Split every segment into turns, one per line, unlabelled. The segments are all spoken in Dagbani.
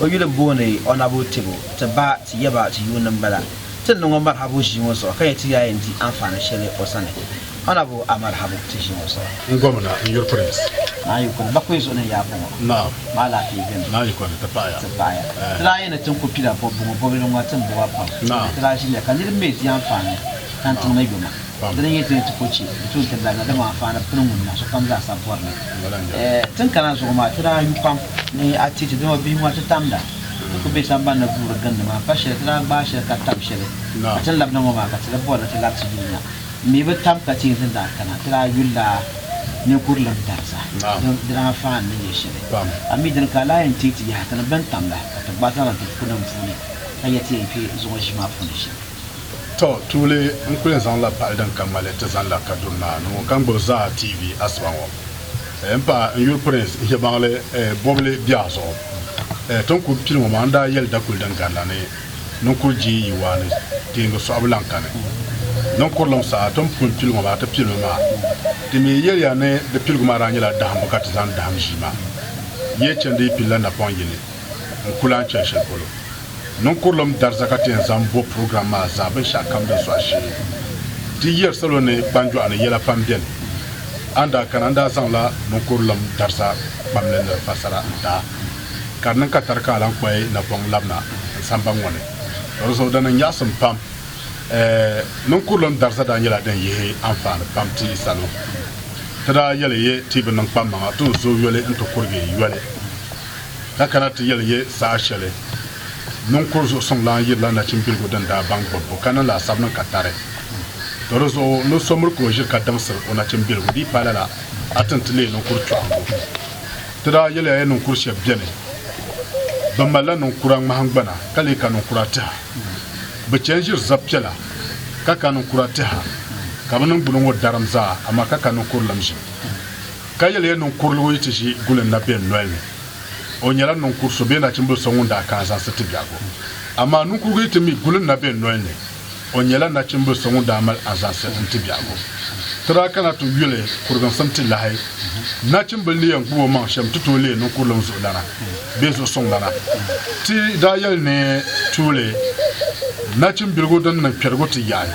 O yuli booni Ɔnabu Tebo. Ti ba, ti yaba, ti yuuni m-bala. Ti ni niŋɔ Marhabu ʒii ŋɔ zuɣu ka yɛli ti yaayɛ n-di anfaani shɛli o sani. Ɔnabu a Marhabu ti ʒii ŋɔ zuɣu. N Gomna, n yuri Prince.
Naa yi kuli bakui
zuɣu ni yaa bɔŋɔ. Naam. Maa alaafee
beni?
Naa yi kuli ti paɣi ya. Ti
paɣi ya. Ɛɛh. Ti daa yɛli
ti ni kuli kpila bɔbigu ŋɔ bɔbili ŋɔ ti ni bo ba pam. Naam. Ti daa ʒiliya ka niriba mi di anfaani tantiŋ ni yoma. Di ni nyɛ tooi ti ko chɛ, di tooi ti labina, dama anfaani pini ŋun niŋ sokam zaasa bɔri li. Tin kana zuɣu maa, ti daa yu pam ni a ti ti dama bihi ŋɔ ti tamda. Ti ku be sambani ni guuri gindi maa. Pa shɛli, ti daa gbaai shɛli ka tam shɛli ka ti ni labina ŋɔ maa, ka ti di bɔri li ti labi ti dunia. M mi bi tam ka ti yɛn tin daa kana, ti daa yulila ninkurilim dariza. Di daa anfaani ni nyɛ shɛli. A mi dini ka a lahi yɛn teei ti yaha ti ni bɛn tamda ka ti gbaai zaŋ niŋ ti bukunima puuni ka yɛli ti yɛn kpe zuŋɔ ʒii maa puuni shɛm. Tɔ! Tuuli
n kuli zaŋ la pali din ka ŋmali ti zani la Kaduna na ni ŋɔ ka n gbubi Zaa TV asiba ŋɔ n pa n yuli Prince Ihebaŋli bɔbili biɛɣu zuɣu. Ti ni kuli pili ŋɔ maa n daa yɛli dakuli din gari la ni ni kuli deei yi waa ni teeŋgi sɔɣibu lan kani. Din kurilim saha ti ni pun pili ŋɔ maa ti pili mi maa. Di mi yɛli ya ni di piligu maa daa nyɛla dahimbu ka ti zani dahim ʒii maa. Yi yɛli chandi yi pili la napɔŋ yini. n ku lahi chɛ shɛli polo. Niŋkurulim dariza ka ti yɛn zaŋ bo program maa zaa binshɛɣu kam din sɔɣi shee. Di yiri salo ni kpanjɔɣu ni yɛla pam beni. A ni daa kana n daa zaŋla niŋkurulim dariza kpam ni nir fassara n daa ka di niŋ ka tari ka a lan kpaai napɔŋ labina n samba ŋɔ ni. Di zuɣu di niŋ nyaɣisim pam. Ɛɛh, niŋkurulim dariza daa nyɛla din yihi anfaani pam ti salo. Ti daa yɛli yi ti bi niŋ kpammaŋa ti ni zooi yoli n ti kurigi yoli. ka kana ti yɛli ya saha shɛli niŋkur zuɣusuŋlana yirila nachimbiligu din daa baŋ bɔbbu ka niŋ laasabu niŋ ka tari to di zuɣu ni so miri ka o ʒiri ka diŋsiri o nachimbiligu di yi paai lala a ti ni ti leei niŋkur kpɛɣiŋgu. Ti daa yɛli ya ya niŋkur shɛb beni bɛ malila niŋkura ŋmahingbana ka leei ka niŋkura tɛha bɛ chɛ n-ʒiri zab piɛla ka ka niŋkura tɛha ka bɛ niŋgbuna ŋɔ darim zaa amaa ka ka niŋkur lim ʒim. Ka yɛliya niŋ kuriligu yi ti ʒi guli n na bɛ n noli ni. O nyɛla niŋ kur so bee nachimbili so ŋun daa kaai zaŋsi ti biɛhigu. Amaa niŋkurugu yi ti mi guli n na bɛ n noli ni, o nyɛla nachimbili so ŋun daa mali azaŋsi n ti biɛhigu. Ti daa kana ti yuli kuriginsim ti lahi nachimbili ni yɛn gbubi o maŋ shɛm ti tooi leei niŋ kurilim zuɣulana bee zuɣusuŋlana. Ti daa yɛli ni tuuli nachimbiligu din niŋ kpɛrigu ti yaɣi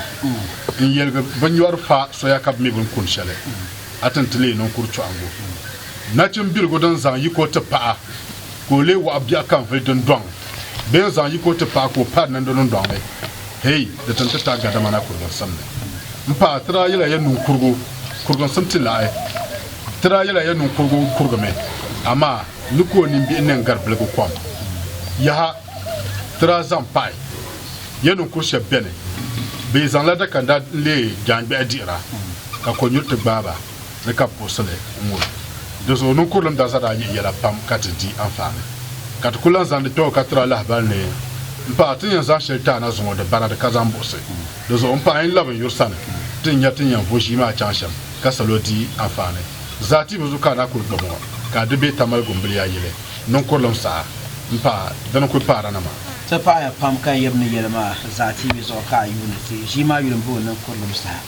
n yɛligi binnyɔri fa soya ka bi mi bini kuni shɛli. a ti ni ti leei ninkuri chɔɣiŋgu nachimbiligu din zaŋ yiko nti paɣa ka o leei waɣa biɛɣu ka n-vuli dindɔŋ bee n-zaŋ yiko nti paɣa ka o pari niŋdi dindɔŋ ni? Hei, di ti ni ti taai gadamana kuriginsim ni. M paɣa, ti daa yɛla ya ninkurigu kuriginsim ti lahi ti daa yɛla ya ninkurigu n-kurigimi, amaa ni ka o nimbihi niŋ gari biligu kom. Yaha! Ti daa zaŋ paai ya ninkur shɛb bɛni bee zaŋla dakanda n-leei jaangbɛhi dihira, ka kɔnyuri ti gbaai ba ni ka bɛ puɣisi li n-ŋub. Di zuɣu ninkurilim darza daa yihi yɛla pam ka ti di anfaani. Ka ti ku lan zaŋdi kpɛbu ka tiri alahabali ni, M paɣa, ti ni yɛn zaŋ shɛli ti a na zuŋɔ di baradi ka zaŋ buɣisi. Di zuɣu m paɣa yin lab n yuri sani ti ni nya ti ni yɛn vo ʒii maa chaŋ shɛm ka salo di anfaani zaa ti bi zu ka a na kul gbibi ŋɔ, ka a di bee tamali gumbiliya yili. niŋkurilim saha m-paai di ni kuli paara na maa. Ti paɣiya pam
ka yab ni yɛli maa zaa tiibi zuɣu ka a yuuni ti ʒii maa yuli m-bo niŋkurilim saha.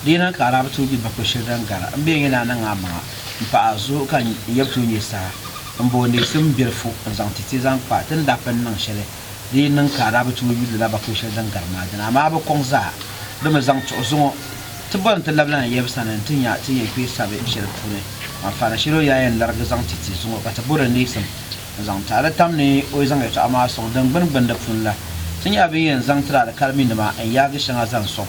Di yi niŋ ka Arabu tuui gbi bakpe shiri din gari, m bee n-yɛn daa niŋ a maŋa m-paɣi a zuɣu ka n yab tuui nyɛ saha m-bo neesim bilifu n-zaŋ ti ti zaŋ kpa ti ni daa pun niŋ shɛli di yi niŋ ka a daa bi tooi yuli lala bakɔi shɛli din gari maa dini, amaa a bi kɔŋ zaa, di mi zaŋ tuɣi zuŋɔ. Ti bɔri ni ti labila na Yɛb sani nti nya ti ni yɛn kpee sabi shɛli puuni, maa faana shɛli o yaa yɛn larigi zaŋ ti ti zuŋɔ ka ti bɔri ni neesim ni zaŋ ti a. Di tam ni o yi zaŋ yɛtɔɣa maa sɔŋ din gbini gbini di puuni la, ti nyɛla bɛ ni yɛn zaŋ tiri alikaliminima n-yaagi shɛŋa zaŋ sɔŋ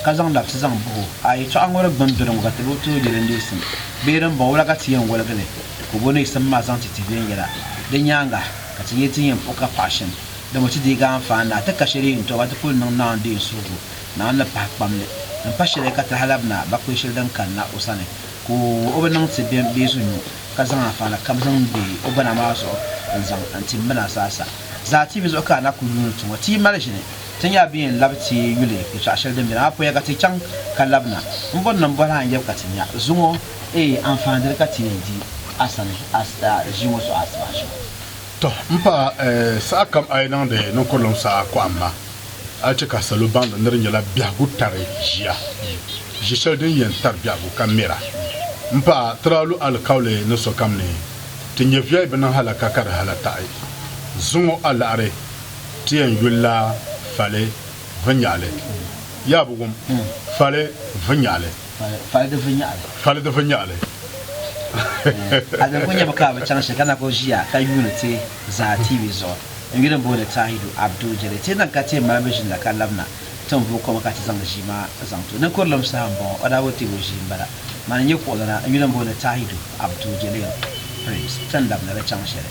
ka zaŋ labisi zaŋ buhi o. A yɛtɔɣa ŋɔ di gbini doli ŋɔ ka ti bi tooi yɛli neesim bee dimbɔŋɔ, wula ka ti yɛn woligi li ka o bo neesim maa zaŋ ti ti viɛnyɛla? Di nyaaŋa. Ka ti nyɛ ti ni yɛn puhi ka paɣa shɛm, dama o ti deegi a anfaani ni a ti ka shɛli yi ni tɔbu, a ti kul niŋ Naawuni din yi suhigu, Naawuni ni pahi kpam li. Din pa shɛli ka ti halabina ba kpe shɛli din kanna o sani, ka o bi niŋ ti bɛn bee zu nyu, ka zaŋ anfaani kam zaŋ be o gbana maa zuɣu n-zaŋ n-ti m bɛn a zaa sa. Zaa ti bi zuɣu ka a na kul yuuni ti ŋɔ. Ti yi mali ʒini, ti ni yaa bi yɛn labi ti yuli yɛtɔɣ shɛli din beni, amaa puya ka ti chaŋ ka labina. M bɔri ni m bɔhi a n-yab ka ti nya zuŋɔ. Eei anfaadili ka ti yɛn di a sani ʒii ŋɔ suɣa asibahi shɛm. Tɔ
m paɣa, sahakam a yi niŋdi ninkurulim saha kɔhim ma, a ni chɛ ka salo baŋdi ni di nyɛla biɛhigu tari ʒia, ʒi shɛli din yɛn tari biɛhigu ka mɛra. M paɣa, ti daa lu alikauli ni sokam ni ti nyɛ viɛi bi niŋ halaka ka di halataɣi. Zuŋɔ a laɣiri ti yɛn yulila Fale vinyaɣili. Yaa bi wum? Fale vinyaɣili. Fali di vinyɛɣili. Fali di vinyɛɣili. A din
kul nya mi ka bɛ chaŋ shɛli ka na kul ʒiya ka yuuni ti zaa TV zuɣu n-yuli m-booni Tahidu Abdul Jɛli. Ti niŋ ka ti yɛn mali bɛ ʒini la ka labina ti ni vooi koma ka ti zaŋdi ʒii maa zaŋ ti o. Ninkurilim saha m-bɔŋɔ, o daa bi teeg o ʒii m-bala. Mani n-nyɛ kuɣulana n-yuli m-booni Tahidu Abdul Jɛlil Prince ti ni labina di chaŋ shɛli.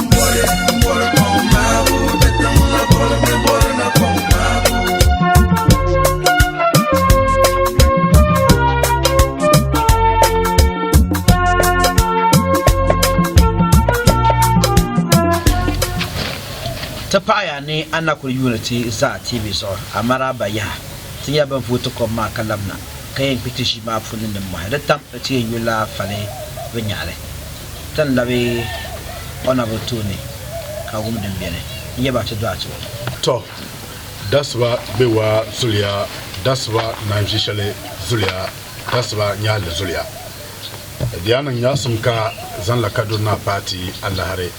ti paɣaya ni a na kuli yuuni ti zaa TV zuɣu Amaraaba yaha ti nya bɛn vooi ti kom maa ka labina ka yɛn kpi ti ʒii maa puuni nimmɔhi di tam ti yɛn yuli la fali binyɛhili. Ti ni labi o naba tooni ka wum din beni, n-yɛ ba ti dɔɣi ti o. Tɔ!
Dasiba be waa zuliya, dasiba naan ʒi shɛli zuliya, dasiba nyahi li zuliya. Di daa niŋ nyaɣisim ka zaŋla Kaduna Naa paai ti alahiri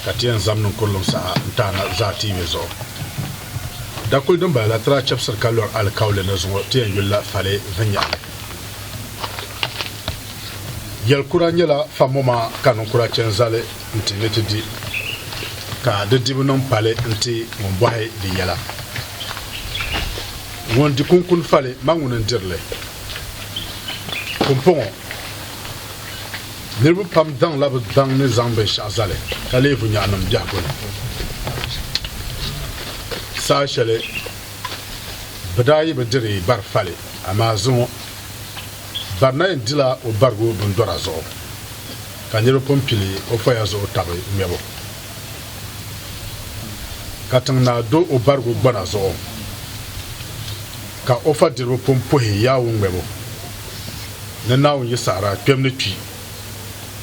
ka ti yɛn zam niŋ kurilim saha n-taana zaa ti yi be zuɣu. Dakuli din bala la ti daa chɛbisiri ka lɔri alikauli ni zuŋɔ ti yɛn yulila Fale vinyɛhili. Yɛlikura nyɛla fa mo maa ka ninkura chɛ n-zali nti ni ti di, ka di dibu niŋ pali nti ŋun bɔhi di yɛla. Ŋun di kunkuni fali ma ŋuni n-diri li. Pumpɔŋɔ, niriba pam daŋla bɛ daŋ ni zaŋ binshɛɣu zali ka leevu nyɔɣinim biɛhigu ni. Saha shɛli bɛ daa yi bi diri bari fali, amaa zuŋɔ. Barina yɛn dila o barigu bindɔra zuɣu ka niriba pun pili o poya zuɣu tabi ŋmɛbu. Katiŋ naa do o barigu gbana zuɣu ka o fadiriba pun puhi yawu ŋmɛbu ni Naawuni yi saɣira kpɛm ni kpi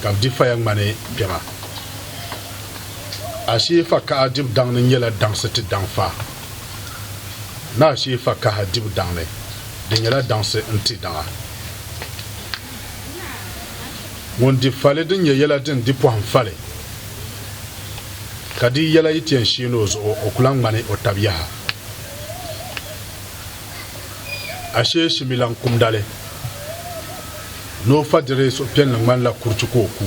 ka bɛ di faya ŋmani kpɛma. Ashee fakaha dibu daŋ ni nyɛla daŋsi ti daŋ fa ni ashee fakaha dibu daŋ ni. Di nyɛla daŋsi n-ti daŋa. Ŋun di fali din nyɛ yɛla din di pɔhim fali, ka di yɛla yi ti yɛn sheeni o zuɣu, o ku lahi ŋmani o tab yaha. Ashee shimilan kumdali ni o fadiri suhupiɛlli ŋmanila kuriti ka o ku.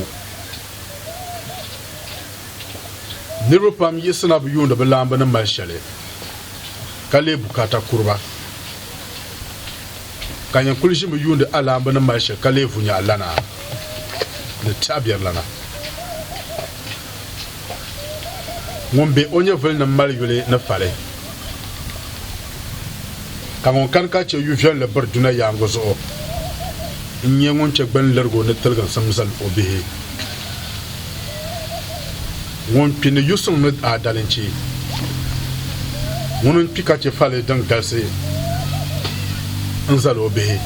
Niriba pam yiɣisina bi yuuni bi laambu ni mali shɛli. ka lee bukaata kuri ba. Ka yin kuli ʒimi yuundi alaambu ni mali shɛli ka lee vu nyaɣi lana ni tɛɣibiɛrilana. Ŋun be o nyɛvuli ni mali yuli ni fali, ka ŋun kani ka chɛ yuviɛlli biri duna yaaŋɔ zuɣu n-nyɛ ŋun chɛ gbanlirigu ni tiliginsim zal o bihi. Ŋun kpi ni yu suŋ ni daa dalinchi, ŋuni n-kpi ka chɛ fali din galisi n-zal o bihi,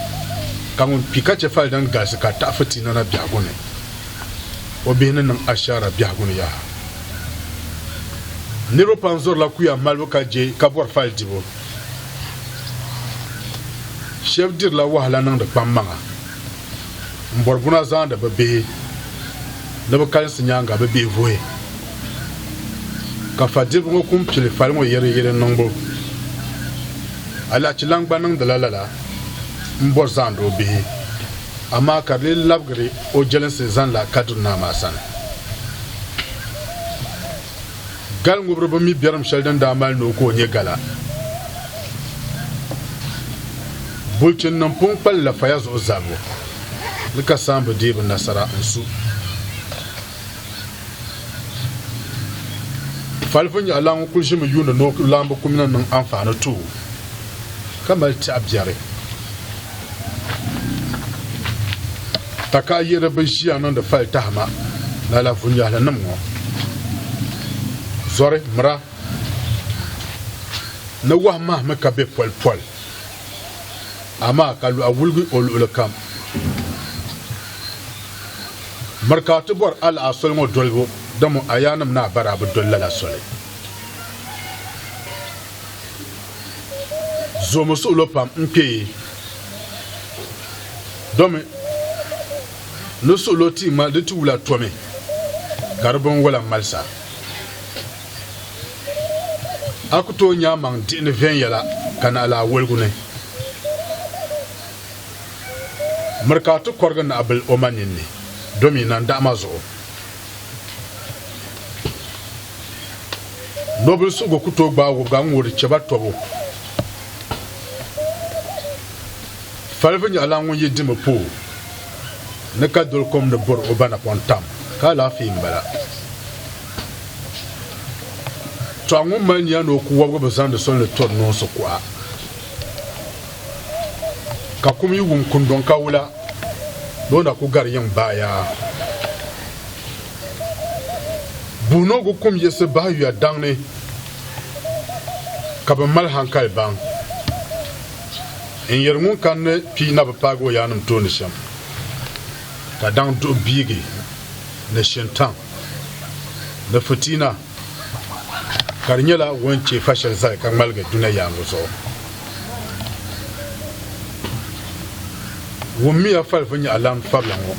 ka ŋun kpi ka chɛ fali din galisi ka taɣi fitina na biɛhigu ni, o bihi ni niŋ ashaara biɛhigu ni yaha. Niriba pam zɔrila kuya malibu ka je ka bɔri fali dibu. Shɛb dirila wahala niŋdi kpammaŋa. n bɔri buna zaandi bɛ bihi ni bɛ kalinsi nyaaŋa bɛ bihi vuhi ka fadiriba ŋɔ kum pili fali ŋɔ yɛriyɛri niŋbu alahichilan gba niŋdila lala m bɔri zaandi o bihi amaa ka di lee labigiri o jɛlinsi zanila Kadiri Naa maa sani. Gal ŋubiri bi mi biɛrim shɛli din daa mali ni o ka o nyɛ gala. Bulichin nim pun kpali la faya zuɣu zabibu ni ka saambu deei bi nasara n-su. Falifu nyaɣilan ŋun kuli ʒimi yuuni ni o laambu kum ni niŋ anfaani tooi ka mali tɛɣu biɛri. Takayiri bi ʒiya niŋdi fali tahima lala vunyahili nim ŋɔ zɔri mira ni wahi mahi mi ka be poli poli amaa ka luɣa wuligi o luɣuli kam miri ka ti bɔri alaha soli ŋɔ dolibu dama ayanim ni a bari a bi doli lala soli zoomi suɣulo pam n kpe domi ni suɣulo ti ŋmali di ti wula tomi ka di binwola malisa a ku tooi nya maŋ diɣi ni viɛnyɛla ka naɣi laa woligu ni miri ka a ti kɔrigi naɣibil o ma ninni domi nandaɣima zuɣu Nobili suhigu ku tooi gbaai wobga n-ŋɔ di chɛ ba tɔbu. Falibu nyaɣilan ŋun yi dimi pooi ni ka doli kom ni bɔri o ba napɔŋ tam, ka alaafee m-bala. Tɔha ŋun mali nia ni o ku wobgi bi zaŋdi soli ni tɔri noonsi kuɣa. ka kum yi wum kundɔŋ ka wula ni o na ku gari yiŋ bahiya. Buhinogu kum yiɣisi bahi yuya daŋ ni ka bɛ mali hankali baŋ n-yɛri ŋun kanni kpi na bi paagi o yaannim tooni shɛm, ka daŋ duɣu biigi ni shintaŋ ni fitiina. ka di nyɛla ŋun chɛ fa shɛli zali ka ŋmaligi duna yaaŋɔ zuɣu. Wummiya fali vinyɛhilana fabila ŋɔ.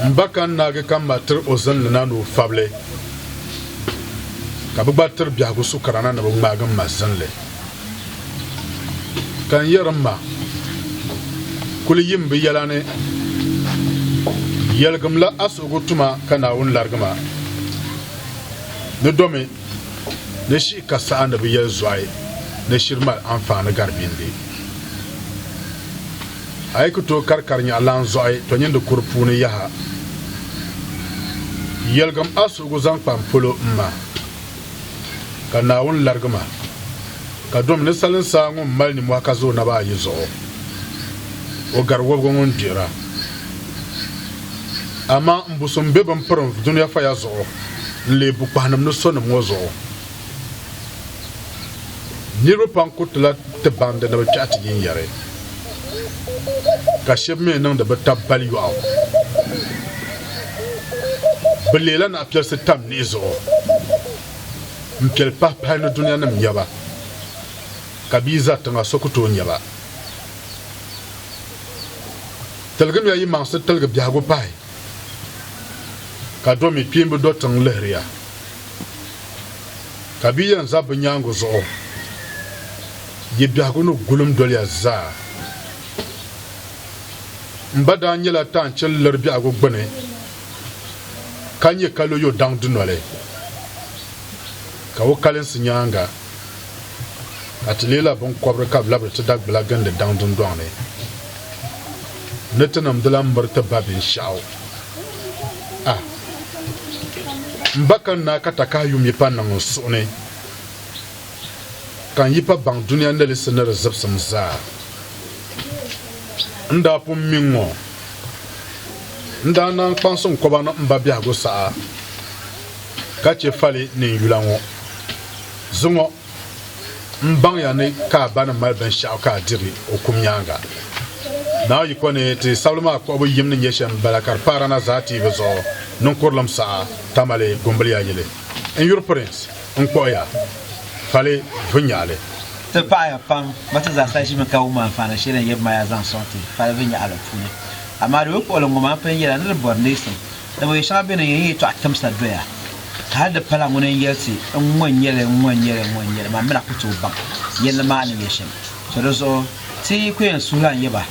M ba ka n naagi ka m ma tiri o zinli na ni o fabili, ka bɛ gba tiri biɛhigu sukarana ni bɛ ŋmaagi m ma zinli. ka n yɛri n ma kuli yim bi yɛla ni yɛligimla a suhigu tuma ka naawuni larigi ma ni domi ni shi ka saha ni bi yɛli zɔhi ni shiri mali anfaani gari bindi a yi ku tooi kari kari nyaɣa lan zɔhi to nyindi kuri puuni yaha yɛligim a suhigu zaŋ kpa n polo m ma ka Naawuni larigi ma, ka dom ni salin saa ŋun mali nimɔhi ka za o naba ayi zuɣu, o gari wɔbigu ŋun gbihira. Amaa m busim be bɛn piri n dunia faya zuɣu n-leei bukpahinim ni sonim ŋɔ zuɣu. Niriba pam kuritila ti baŋdi ni bɛ kpɛhi ti yinyari. ka shɛb mi niŋdi bɛ tab bali yɔɣu. Bɛ leela naɣipiɛlsi tam niɣi zuɣu m-piɛli pahipahi ni dunianim nya ba, ka bɛ yi za tiŋa so ku tooi nya ba. Tiligimiya yi maŋsi tiligi biɛhigu pahi, ka do mi kpiimba do tiŋ lihiriya, ka bɛ yi yɛn za bɛ nyaaŋa zuɣu. Yi biɛhigu ni gulim doliya zaa. M ba daa nyɛla taanchini liri biɛhigu gbini ka nyɛ kalo yo daŋ dunoli, ka o kalinsi nyaaŋa ka ti leela biŋkɔbiri ka bɛ labiri ti Dagbula gindi daŋ dundɔŋ ni ni ti niŋ di la m-miri ti ba binshɛɣu. Ah! M ba ka n naai ka takahi yum yi pa niŋ n suhu ni. ka n yi pa baŋ dunia nilisi ni di zibsim zaa. N daa pun mi ŋ-ŋɔ. N daa naan kpaŋsi n kɔba ni m ba biɛhigu saha ka chɛ fali ni n yula ŋɔ. Ziŋɔ, m baŋya ni ka a ba ni mali binshɛɣu ka a diri o kum nyaaŋa. Naawuyiko ni ti sabili maa kpuɣibu yim ni nyɛ shɛm m-bala ka di pahiri na zaa tiibu zuɣu niŋkurilim saha tamali gumbiliya yili. N yuri Prince. N kpuɣi ya pali vinyɛɣili. Ti paɣiya
pam, ba ti zaa sa ʒimi ka wum anfaani shɛli n yɛbi maa ya zaŋ sɔŋ ti pali vinyɛɣili puuni. Amaa di bi kpuɣili ŋɔ maa pun yɛla ni di bɔri neesim, dama yɛ shɛŋa beni n yɛn yi tɔɣi timsa doya, ka hali di pala ŋuni n yɛli ti n ŋɔ n-nyɛ li, n ŋɔ n-nyɛ li, n ŋɔ n-nyɛ li, maa mi na ku tooi baŋ yɛli ni maa ni nyɛ shɛm. So di zuɣu ti yi ku yɛn suhi lan yɛ ba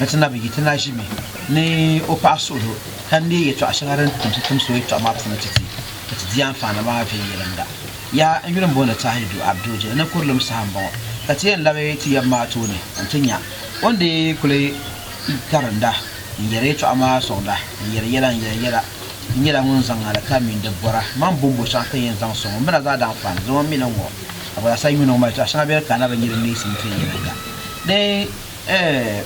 ni ti na bi yi, ti na ʒimi ni o paɣa suhudoo ka neei yɛtɔɣ shɛŋa din timsi timsi o yɛtɔɣa maa puuni ti ti. ka ti di anfaani maa viɛnyɛliŋga. Yaha! N yuli m-booni Tahir Duh Abdooje ni kurilim saha m-bɔŋɔ, ka ti yɛn labi ti yab maa tooni nti nya o ni dii kuli karinda n-yɛri yɛtɔɣa maa sɔŋda n-yɛri yɛla n-yɛri yɛla. N nyɛla ŋun zaŋ alikaam mini di bɔra mani bɔmbu shɛŋa ka yɛn zaŋ sɔŋ o mina zaa daanfaani zuɣu. M mi ni ŋɔ Abalasa yuuni ŋɔ mali yɛtɔɣa shɛŋa bee di kaana binyɛri n-mi sim viɛnyɛliŋga ni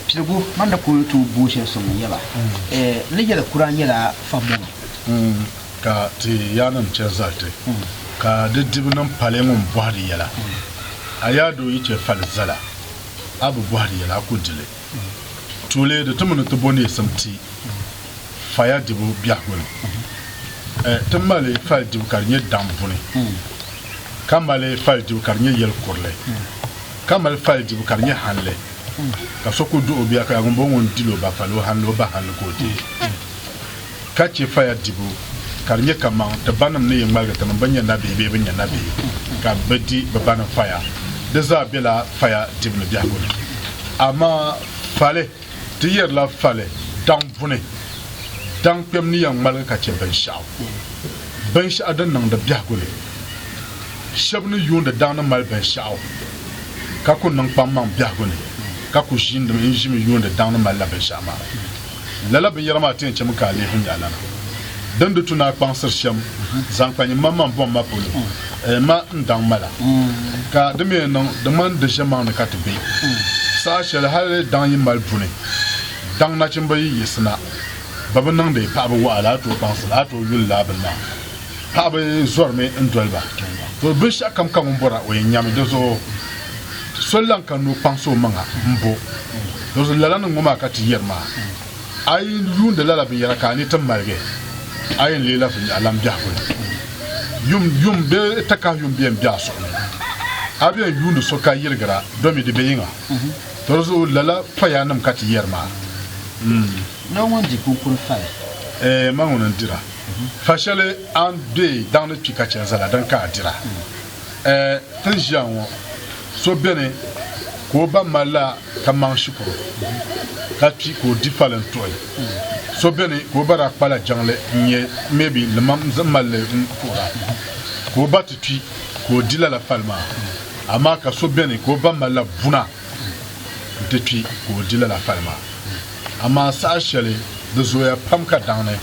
piligu. Mani ni ku tooi booi shɛli sɔŋ n-yɛba, n ni yɛli kura nyɛla fahimbu mi. ka
ti yaannim chɛ zali ti, ka di dibu niŋ pali ŋun bɔhi di yɛla. A yaadoo yi chɛ fali zala, a bi bɔhi di yɛla, a ku di li. Tuuli di ti mini ti bo neesim ti faya dibu biɛhigu ni. Ti mali fali dibu ka di nyɛ daŋ buni, ka mali fali dibu ka di nyɛ yɛl kurili, ka mali fali dibu ka di nyɛ hanli, ka so ku duɣ o bia ka ya, ŋumbɔŋɔ ŋun dil o ba fali, o hanli, o ba hanli ka o di. ka chɛ faya dibu, ka di nyɛ kaman ti banim ni yi ŋmaligi tinim bɛn nyɛ nabihi bee bɛ nyɛ nabihi ka bɛ di bɛ banim faya. Di zaa bela faya dibu ni biɛhigu ni. Amaa fali, ti yɛrila fali daŋ buni? Daŋ kpɛm ni yɛn ŋmaligi ka chɛ binshɛɣu, binshɛɣu din niŋdi biɛhigu ni. Shɛb ni yuundi daŋ ni mali binshɛɣu ka ku niŋ kpaŋmaŋ biɛhigu ni, ka ku ʒiindi mi n-ʒimi yuundi daŋ ni malila binshɛɣu maa. Lala binyɛra maa ti yɛn chɛmi ka a leei n yaɣilana din di tu ni a kpaŋsiri shɛm zaŋ kpa nyin maŋmaŋ bɔŋ ma polo eei ma n daŋ ma la. Ka di mi yɛn niŋ di ŋmani di ʒiɛmaŋ ni ka ti be saha shɛli hali daŋ yi mali buni daŋ nachimba yi yiɣisina ba bi niŋdi paɣiba waɣa la a tooi kpaŋsiri a tooi yuli lala bini maa. paɣaba zɔrimi n doli ba to binshɛɣu kam ka ŋun bɔra o yɛn nyami di zuɣu so lan ka nuu kpaŋsi o maŋa n bo di zuɣu lala ni ŋɔ maa ka ti yɛri maa a yi yuundi lala binyɛra ka a ni ti maligi a yɛn leela viŋ alam biɛhigu ni yum yum bee takahi yum bɛn bɛ a suɣu ni a bɛn yuundi so ka yirigira domi di bɛ yiŋa di zuɣu lala pɔya nim ka ti yɛri maa.
Noo ŋun di kunkuni fali. Ee, ma ŋuni
n-dira. Fa shɛli a ni deei daŋ ni kpi ka chɛ n zala din ka a dira. Ɛɛ, ti ni ʒiya ŋɔ, so beni ka o ba mali la kaman shikuru, ka kpi ka o di fali n-tuɣi. So beni ka o ba daa kpa la jiŋli n-nyɛ maybe limam zaŋ mali li n-kuhira, ka o ba ti kpi ka o di lala fali maa. Amaa ka so beni ka o ba mali la buna. nti kpi ka o di lala pali maa. Amaa saha shɛli di zooya pam ka daŋ ni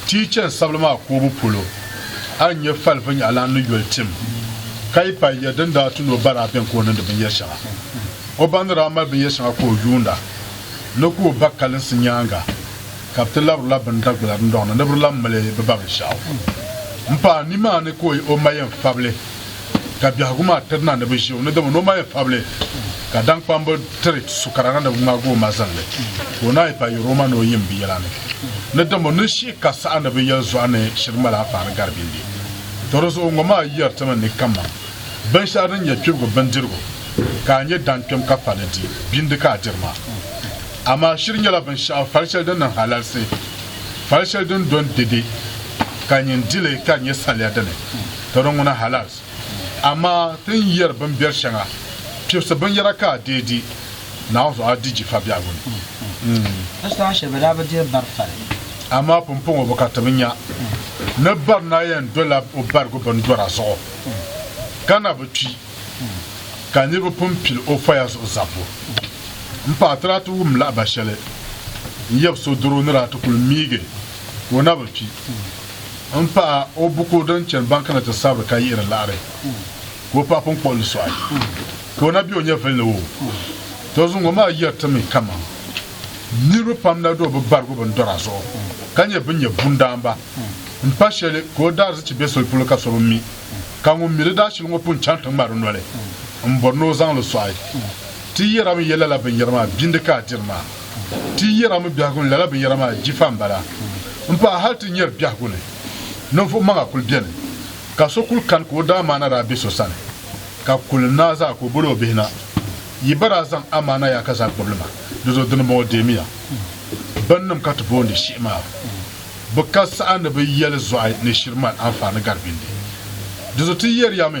ti yi chani sabili maa koobu polo, a ni nya fali vinyɛhilana ni yoli tim ka yi paai yɛri din daa ti ni o ba daa beni ka o niŋdi binyɛr shɛŋa. O ba ni daa mali binyɛr shɛŋa ka o yuunda ni ka o ba kalinsi nyaaŋa ka bɛ ti labiri la bini Dagbula dindɔŋ ni ni bɛ di lan mali bɛ ba binshɛɣu. M paai nimaani ka o ma yɛn fabili. ka biɛhigu maa tiri na ni bɛ ʒi o ni dama ni o ma yi pabili ka daŋkpambu tiri sukara na ni bɛ ŋmaagi o mazinli ka o naai pa yuri o ma ni o yim bɛ yɛla ni ni dama ni shi ka saha ni bɛ yɛli zuɣa ni shiri mali a paani gari bindi to di zuɣu ŋɔ maa yɛri ti mi ni kammaŋ binshɛli din nyɛ kpibigu bindirigu ka a nyɛ dankpɛm ka pali di bindi ka a diri maa amaa shiri nyɛla binshɛɣu fali shɛli din niŋ halalisi fali shɛli din do n-dede ka nyin dili ka di nyɛ saliya dini Tɔro ŋɔ na halas, amaa ti ni yɛri bimbɛri shɛŋa, kpibisi binyɛra ka a deei di Naawuni zuɣu a di jifa biɛhigu ni.
Amaa pumpɔŋɔ
bi ka ti bi nya ni barina yɛn dola o barigu bindɔra zuɣu, ka na bi kpi, ka niriba pun pili o faya zuɣu zabbu. M paɣa, ti daa ti wum lahiba shɛli n-yab so doro ni daa ti kul miigi ka o na bi kpi. N paɣa o buku din chani bank ni ti sabiri ka yihiri laɣiri ka o paɣa pun kpuɣi li sɔɣi ka o na be o nyɛvili ni o to zuŋ ŋɔ maa yiri ti mi kaman niriba pam na do bi barigu bin dɔra zuɣu ka nyɛ bin nyɛ bundaanba n pa shɛli ka o daarizichi be soli polo ka so bi mi ka ŋun mi di daashili ŋɔ pun chaŋ ti ŋmari noli n bɔri ni o zaŋ li sɔɣi ti yihirami yɛ lala binyɛri maa bindi ka a diri maa Ti yɛra mi biɛhigu ni lala binyɛra maa jifa m-bala. M paɣa hali ti nyari biɛhigu ni ninvuɣ maŋa kul beni, ka so kul kani ka o daamaana daa be so sani, ka kul naai zaa ka o bol o bihi na, Yi ba daa zaŋ amaana yaa ka zaa gbibi li ma, dizuɣu dinibɔŋɔ deemiya. Binnim ka ti boondi shihi maa, bɛ ka saha ni bɛ yɛli zɔɣi ni shiri mali anfaani gari bindi. Dizuɣu ti yɛri ya mi.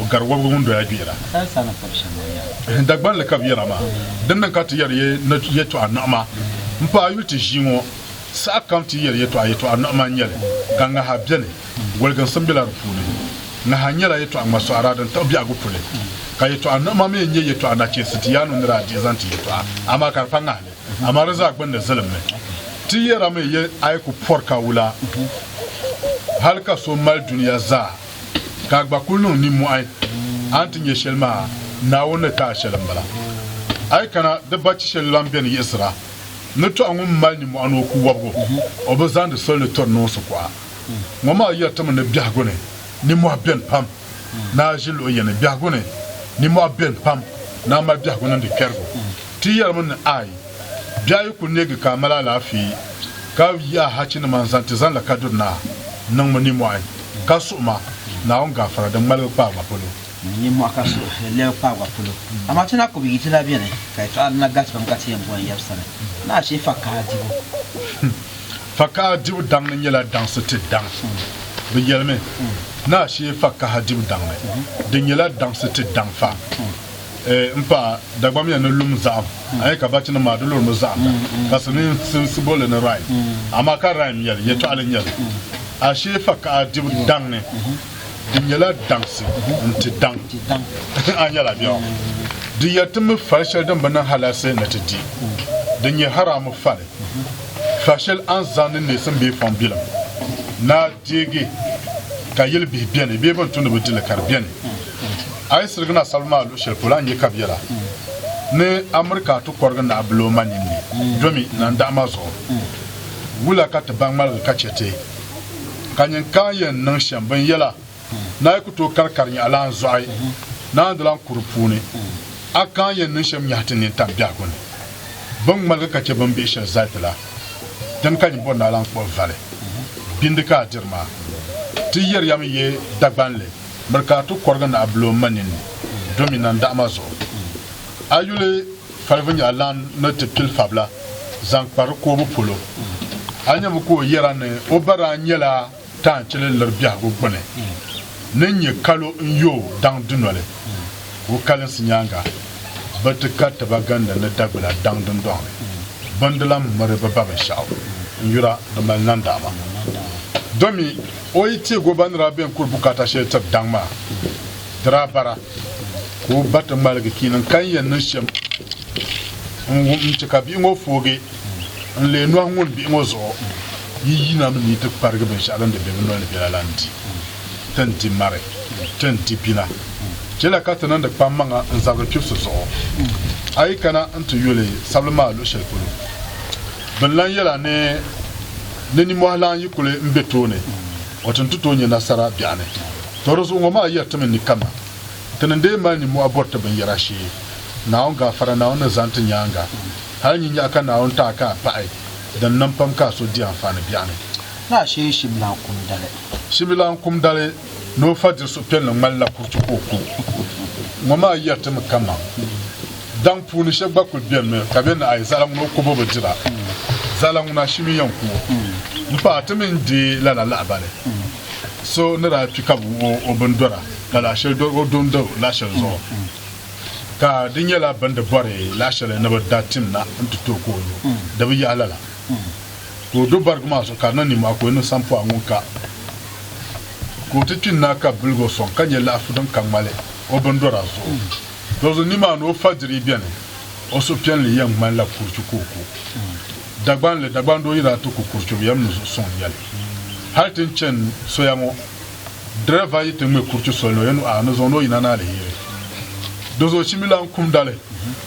o gari wɔbigu ŋun doya gbihira.
Dagbani
li ka bɛ yɛra maa. Din niŋ ka ti yɛri yɛtɔɣa niɣima m-pa a yuli ti ʒii ŋɔ. Saha kam ti yɛri yɛtɔɣa, yɛtɔɣa niɣima n-nyɛ li, ka ŋaha beni. Goliginsim bela di puuni. Ŋaha nyɛla yɛtɔɣa ŋmasɔɣira din tiɣi biɛhigu puli, ka yɛtɔɣa niɣima mi n-nyɛ yɛtɔɣa nachinsi ti yaanu nira adihi zaŋ ti yɛtɔɣa, amaa ka di pa ŋahili, amaa di zaa gbinni zilimmi. Ti yɛrimi yɛl a yi ku pɔri ka wula, hal ka so mali dunia zaa. ka a gba kul niŋ nimmɔhi a ni ti nya shɛli maa, Naawuni ni ti a shɛli m-bala. A yi kana, di ba chi shɛli lan beni yiɣisira ni tɔha ŋun mali nimmɔhi ni o ku wɔbigu, o bi zaŋdi soli ni tɔri noonsi ku a. Ŋɔ maa yɛritimi ni biɛhigu ni nimmɔhi beni pam, ni a ʒi luɣ yini biɛhigu ni nimmɔhi beni pam, ni a mali biɛhigu niŋdi kpɛrigu. Ti yɛrimi ni, Aai! Bɛ a yi ku neegi ka a mali alaafee, ka yi ahachinima n-zaŋ ti zaŋ la Kadiri Naa, niŋmi nimɔhi ka suhi ma Naawuni gaafara din ŋmaligi kpaagba polo. Nimɔhi ka
suhi lɛbi kpaagba polo. Amaa ti na ku bi yi ti la beni, ka yɛtɔɣa dina galisi pam ka ti yɛn bɔhi yɛbu sani ni a chɛ fakaha dibu.
Fakaha dibu daŋ ni nyɛla daŋsi ti daŋ. Bɛ yɛlimi ni a chɛ fakaha dibu daŋ ni di nyɛla daŋsi ti daŋ fa. n pa dagbamia ni lum zahim a yɛ ka bachinim maa di lurimi zaɣinda ka silimiinsi boli li ni rhyme amaa ka rhyme nyɛli yɛtɔɣili nyɛli ashee fakaha dibu daŋ ni di nyɛla daŋsi n ti daŋ a nyɛla bɛ di yɛli ti mi fali shɛli din bi niŋ halasi ni ti di din nyɛ haraamu fali fa shɛli a ni zaŋ ni neesim bee fɔŋ bilim naa deegi ka yili bihi bɛni bee bin tumdi bi dili ka di bɛni A yi sirigi na sabu maa luɣushɛli polo, a ni nya ka biɛla ni Amirika ti kɔrigi naɣ bil o ma ninni domi nandaɣ ma zuɣu. Wula ka ti baŋ ŋmaligi ka chɛ ti ka nyin ka yɛn niŋ shɛm bin yɛla na yi ku tooi kari kari nyaɣilaan zɔɣi naan di lan kuri puuni? A ka n yɛn niŋ shɛm nyahi ti nini tam biɛhigu ni bin ŋmaligi ka chɛ bin bihi shɛli zali ti la? Dini ka nyin bɔri ni a lan kpuɣi vali bindi ka a diri maa? Ti yɛri yami ye Dagbanli. miri ka a ti kɔrigi naɣ bil o ma nini domi nandaɣ ma zuɣu. A yuli falibu nyɛla lan ni ti pili fabila zaŋ kpa di koobu polo. A nyami ka o yɛra ni o ba daa nyɛla taanchili liri biɛhigu gbuni ni nyɛ kalo n-yo daŋ dunoli. O kalinsi nyaaŋa bɛ ti ka ti ba gindi ni Dagbila daŋ dundɔŋ ni bɛ ni di lan miri bɛ ba binshɛɣu n-yura di mali nandaɣ ma domi. O yi teeg o ba ni daa be n-kuri bukaata shɛli tiri daŋ maa, di daa bara ka o ba ti ŋmaligi kpiini n-ka n yɛn niŋ shɛm n-wum n-ti ka bihi ŋɔ foogi n leei nɔhi ŋun bihi ŋɔ zuɣu yi yina mi ni yi ti kparigi binshɛɣu din di be bɛ noli ni bela la n-di ti ni di mari ti ni di bina. Chɛla ka ti niŋdi kpammaŋa n zabiri kpibisi zuɣu. A yi kana n-ti yuli sabili maa luɣ shɛli polo, binlan yɛla ni. ni nimɔhi lan yi kuli m-be tooni wato nti tooi nya nasara biɛɣu ni. Tɔ di zuɣu ŋɔ maa yɛritimi ni kaman ti ni deei mali nimɔhi bɔri ti binyɛra shee Naawuni gaafara Naawuni ni zaŋ ti nyaaŋa. Hal nyinyɛɣu ka Naawuni taai ka a paɣi din niŋ pam ka a so di anfaani biɛɣu ni. Lala shee
Shimilan kumdali. Shimilan kumdali. ni o fa diri suhupiɛlli ŋmanila kuriti ka o ku ŋɔ maa yɛritimi kaman daŋ puuni shɛba gba kul benimi ka be ni ai zaɣila ŋuna o kubu bi dira zaɣila ŋuna shimi yɛn ku o m paɣa ti mi n deei lala lahabali so ni daa kpi ka bi wuhi o bini dɔra lala asheli dɔri o do n do laɣasheli zuɣu ka di nyɛla bindi bɔri laɣasheli ni bi da tim na n ti ti o ka o lo di bi yahi lala. ka o do barigu maa zuɣu ka niŋ ninmɔhi ka o yi niŋ sampɔɣu ŋun ka ka o ti kpi n-naai ka biligi o sɔŋ ka nyɛ laɣifu din ka ŋmali o bindɔra zuɣu. Dɔzuɣu nimaani o fajiri beni, o suhupiɛlli yɛn ŋmanila kurichu ka o ku. Dagbanli, Dagbandoo yiri a ti ku kurichu bɛ yɛn mi zuɣu sɔŋ ya li. Hali ti ni chani soya ŋɔ, dirɛva yi ti ŋme kurichu soli ni o yɛn nu a ni zaŋ ni o yina ni aliheri. Dɔzuɣu chimbilan kumda li,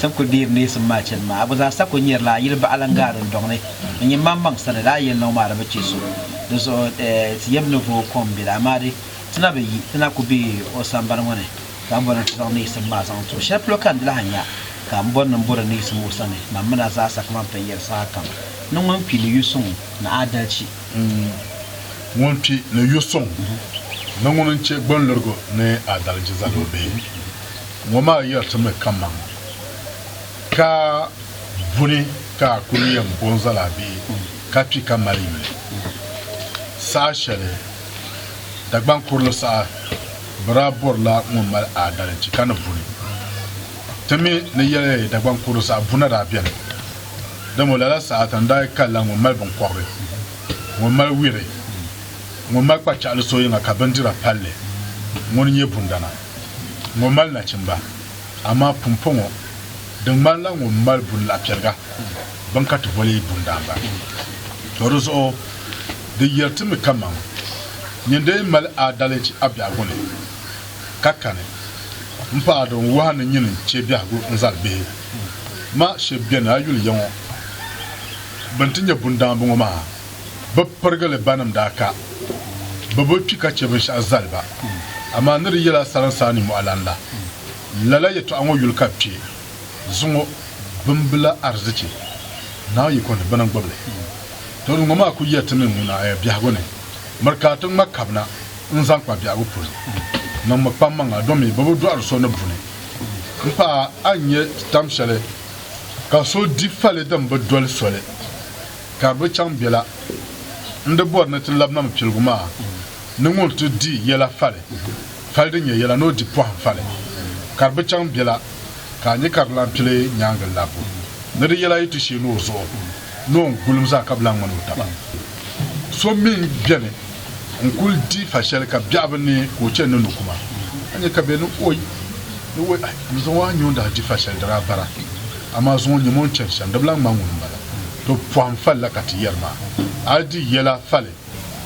Sako deeri neesim maa chani maa, a gba zaa sako nyeri la a yili baɣa lan gaari n dɔŋ ni n nyin maŋ maŋ sani la a yelnɔŋ maa di bi che so. Di zuɣu eh, ti yɛb ni vooi kom bili, amaa di, ti na bi yi, ti na ku be o sambani ŋɔ ni, ka a bɔri ni ti zaŋ neesim maa zaŋ ti o. Shɛli polo ka n di lahi nya ka m bɔri ni m bɔri neesim o sani, mam min a zaasa kaman pɛ yɛri sahakam, ni ŋun kpi ni yu suŋ ni aadalchi. N
ŋun kpi ni yu suŋ ni ŋuni n-che gbanlurigu ni aadalchi zali o bee? Ŋɔ maa yɛritimi kaman ka buni ka a kul yɛn bɔŋ zali a bihi ka kpi ka mali yuli saha shɛli Dagbaŋ kurili saha bɛ daa bɔrila ŋun mali aadalichi ka ni buni. Ti mi ni yɛli Dagbaŋ kurili saha buna daa beni, dama lala saha tani daa kalila ŋun mali binkɔbiri, ŋun mali wiri, ŋun mali kpachɛɣili so yiŋa ka bindira pal li ŋuni nyɛ bundana. ŋɔ mali nachimba, amaa pumpɔŋɔ di ŋmanila ŋun mali buni la piɛliga, bini ka ti boli bundaamba. Tɔ di zuɣu di yɛli ti mi kaman nyin dee mali aadalichi a biɛhigu ni, ka kani m-paɣ din wahi ni nyin n-chɛ biɛhigu n-zali bihi maa shɛb beni a yuli ya ŋɔ bɛn ti nyɛ bundaamba ŋɔ maa. bɛ pirigili banim daa ka, bɛ bi kpi ka chɛ binshɛɣu zali ba. Amaa ni di yɛla salinsaa ni mɔɣulan la, lala yɛtɔɣa ŋɔ yuli ka bɛ kpe, Zuŋɔ bimbila arzichi, Naa yiko ni bɛ ni gbibi li. Tɔ! Di ŋɔ maa ku yɛri ti mi ŋuna ɛ biɛhigu ni, Miri ka a ti ŋma kabina n-zaŋ kpa biɛhigu polo. Niŋmi kpammaŋa domi bɛ bi dɔɣiri so ni buni. M paɣa, a ni nyɛ tam shɛli ka so di fali din bi doli soli? Ka bɛ chaŋ bela n-di bɔri ni ti labi Nam Piligu maa ni ŋɔ nti di yɛla fali, fali din nyɛ yɛla ni o di pɔhim fali. Ka di bi chaŋ bela ka a nya ka di lan pili nyaaŋa labbu ni di yɛla yi ti sheeni o zuɣu ni o ni gulim zaa ka bi lan ŋmani o taba. So mi beni. N kul di fa shɛli ka biɛɣu bi neei ka o chani ni nu kuma. A nya ka bɛ ni oi ni oi, Ai, n zaŋ o a nyu n daa di fa shɛli di daa bara, amaa zuŋɔ nyam o ni chani shɛm di bi lan ŋmani ŋuni m-bala. To pɔhim fali la ka ti yɛri ma. A yi di yɛla fali,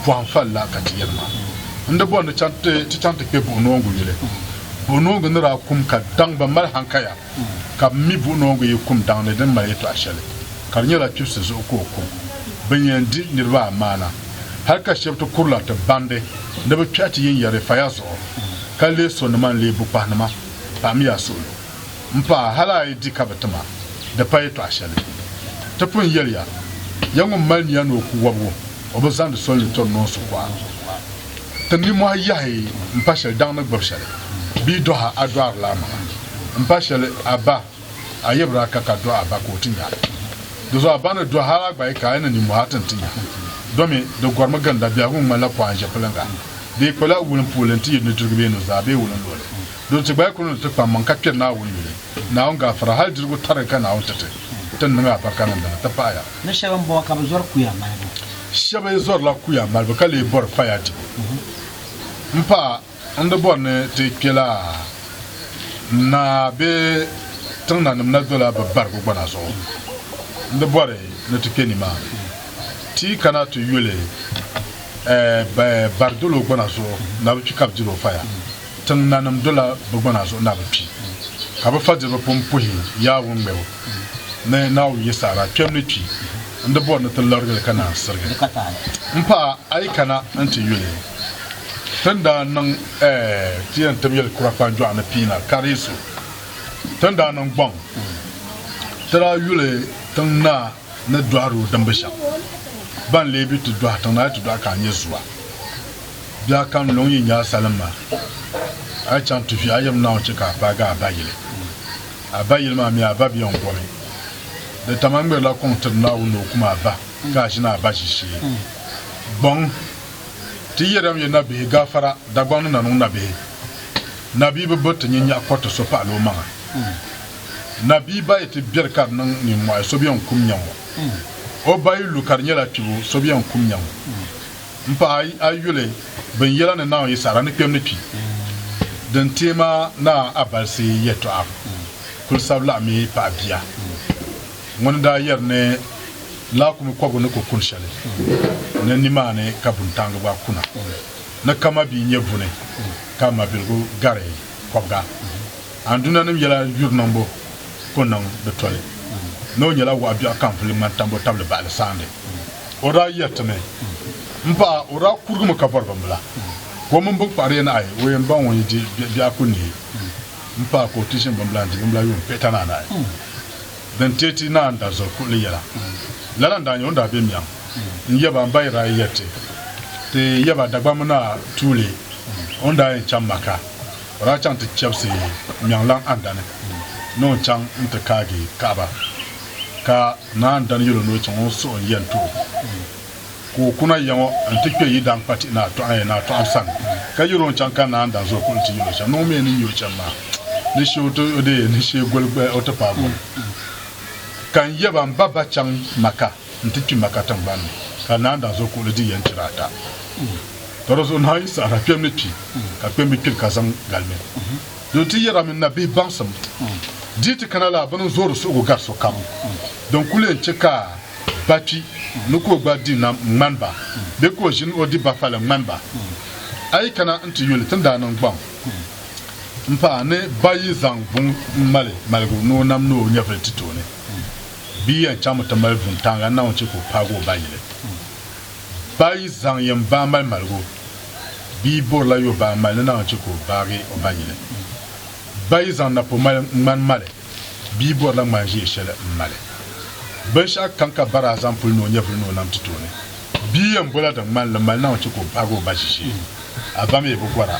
pɔhim fali la ka ti yɛri ma. N di bɔri ni ti chaŋ ti kpe buɣinoongu yuli. Buɣinoongu ni daa kum ka daŋ ba mali hankaya. ka bɛ mi buɣi noongu yi kum daŋ ni di ni mali yɛtɔɣ shɛli, ka di nyɛla kpibisi zuɣu ka o ku. Bɛ ni yɛn di niriba a maana, hal ka shɛb ti kurila ti bandi ni bɛ kpɛhi ti yiŋyari fa ya zuɣu, ka leei sonima n-leei bukpahinima, paɣim ya suɣilo. M paɣa, hal a yi di ka bɛ ti ma, di pa yɛtɔɣ shɛli. Ti pun yɛli ya, ya ŋun mali nia ni o ku wɔbigu, o bi zaŋdi soli ni tɔri noonsi kuɣa. Ti nimɔhi yahi m-pa shɛli daŋ ni gbubi shɛli bia dɔha a dɔɣirila a maŋa m-pa shɛli a ba a yibiri a ka ka dɔɣi a ba ka o ti nya a ni di zuɣu a ba ni dɔhi hal a gba yi ka a yi ni nimɔhi a ti ni ti nya domi di gɔrimi ginda biɛhigu ŋmanila pɔhim ʒɛpiliŋga di yi kpali a wulin puuli nti yi nudirigu bee nuzaa bee wulin luɣili dolo ti gba yi kuli ni ti kpammaŋ ka kpiri Naawuni yuli Naawuni gaafara hal dirigu tariga ka Naawuni ti ti ti ni niŋ a barika niŋdili nti pahi ya
Ni shɛba m-bɔŋɔ ka bɛ zɔri
kuya malibu. Shɛba zɔrila kuya malibu ka lee bɔri faya dibu. M pa, n di bɔri ni ti kpe laa naa bee tiŋnanim na dola bɛ barigu gbana zuɣu. N di bɔri ni ti kpe nimaani ti yi kana ti yuli bɛ bari dolo gbana zuɣu na bɛ kpi ka bɛ diri o faya. Tiŋ nanim dola bɛ gbana zuɣu na bi kpi, ka bɛ fadiriba pun puhi yaa wunŋmɛbo ni Naawuni Yisara kpɛm ni kpi n-di bɔri ni ti larigi li ka naan sirigi m paɣa a yi kana nti yuli. Ti ni daa niŋ ɛɛ ti yɛn tib yɛli kura kpanjɔɣu ni piina kariyisu ti ni daa niŋ gbaŋ ti daa yuli tiŋ naa. ni dɔhiri o dimbu shɛm. Ba n-lee bi ti dɔhi tiŋ ni a yi ti dɔhi ka a nyɛ zua. Bɛ a kani luŋ yi nya a salim maa, a yi chaŋ tuhi a yɛm Naawuni chɛ ka a paagi a ba yili. A ba yili maa mi a ba biɛŋ bɔbi. Di tam a ŋmɛrila kuŋ tiri Naawuni ni o kum a ba ka a ʒini a ba ʒishee. Gbaŋ, ti yɛrila mi nabihi gaafara Dagbaŋ ni na niŋ nabihi. Nabihi bi bo ti nyin nyaɣ kɔriti so pahila o maŋa. Nabiiba yi ti beri ka di niŋ nimmɔhi so bɛn kum nya ŋɔ. O ba yi lu ka di nyɛla kpibu so bɛn kum nya ŋɔ. M paɣa a yuli binyɛla ni Naawuni yi saɣira ni kpɛm ni kpi. Din teei ma Naa Abalisi yɛtɔɣa kul sabi laɣim mi paɣa bia ŋuni n-daa yɛri ni laakumi kɔbigu ni ku kuni shɛli ni nimaani ka buntaŋgi gba kuna ni ka mabia nyɛ buni ka mabiligu gari kɔbiga Andunanim yɛla yuri niŋbu ku niŋ di toli ni o nyɛla waɣ biɛɣu ka n vuli ŋmani tambu tabili baɣili saandi. O daa yɛritimi, M paɣa, o daa kurigimi ka bɔri bimbila, ka o mini biŋkpahiriya nahi o yɛn baŋ o ni di biɛɣu ku neei m paɣa ka o ti ʒini bimbila n-di bimbila yuun pihita ni anahi. Din teei ti naan da zuɣu kuɣili yɛla. Lala n-daa nyɛ o ni daa be miɛŋ n-yab a m-ba Iraya yɛriti ti yab a Dagbamba Naa tuuli o ni daa yɛn chaŋ Maka O daa chaŋ ti chɛbisi Mɛŋlaŋ Andani ni o chaŋ nti kaagi Kaaba, ka Naa Andani yɛl o ni o chaŋ o suhu n-yɛn ti o, ka o kuna ya ŋɔ nti kpe Yidankpatihi Naa Tɔɣim Naa Tɔɣim sani, ka yɛl o n-chaŋ ka Naa Andani zo kuɣu nti yɛl o chaŋ ni o mi ni nya o chani maa ni shee o ti o deei ni shee goli o ti paai goli, ka n yɛba m ba ba chaŋ Maka. nti kpi Maka tiŋgbani ni, ka naan daa zo kuɣili di yɛn chira ata. Ka di zuɣu naai yi sahira kpɛm ni kpi, ka kpɛm bi kpiri ka zaŋ galimi. Don ti yɛra mini nabihi baŋsim dii ti kana la bini n-zoori suhigu gari sokam. Din kul leen chɛ ka ba kpi ni ka o gba di nam ŋ-ŋmani ba, bee ka o ʒini o di bafali ŋ-ŋmani ba, a yi kana nti yuli ti ni daa niŋ gbaŋ m-paai ni ba yi zaŋ vuŋ m-mali maligu ni o nam ni o nyɛvili ti tooni. bia yɛn chaŋmi ti mali vuntaaŋa Naawuni chɛ ka o paagi o ba yili. Ba yi zaŋ yɛn baa mali maligu, bia borila yo baa mali ni Naawuni chɛ ka o baagi o ba yili. Ba yi zaŋ napɔ mali ŋmani mali, bia borila ŋmani ʒiɛ shɛli m-mali. Binshɛɣu kam ka ba daa zaŋ pili ni o nyɛvili ni o nam ti tooni, bia yɛn bola din ŋmani li mali Naawuni chɛ ka o baagi o ba ʒiʒiɛ. A ba mi bi gɔra.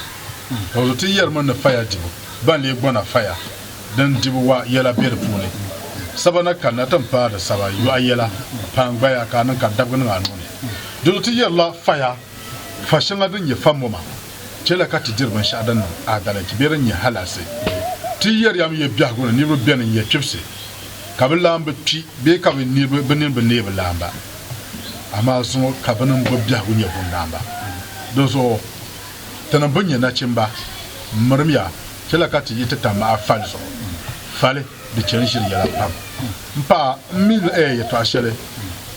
Tɔɣizo ti yɛrimi ni faya dibu, ba n-lee gɔna faya. din dibu wa yɛla be di puuni. Saba na kanna ti ni paai di saba yɔɣu yɛla pain gbaya ka a niŋ ka dabigi niŋ a nuu ni. Dino ti yɛrila faya, fa shɛŋa din nyɛ fa moma chɛla ka ti diri binshɛɣu din niŋ adalɛnchi bee din nyɛ halaasi. Ti yɛriyam yɛ biɛhigu ni niriba beni n-yɛ kpibisi ka bɛ laam bi kpi bee ka bɛ nini bi neei bɛ laam ba, amaa zuŋɔ ka bini m-bo biɛhigu nyɛ bundaamba. Dinzuɣu Ti ni bi nyɛ nachimba, mirimya chɛla ka ti yi ti tam a fali zuɣu. Fali di chɛ n-ʒiri yɛla pam. M paɣa, m mi n eei yɛtɔɣ shɛli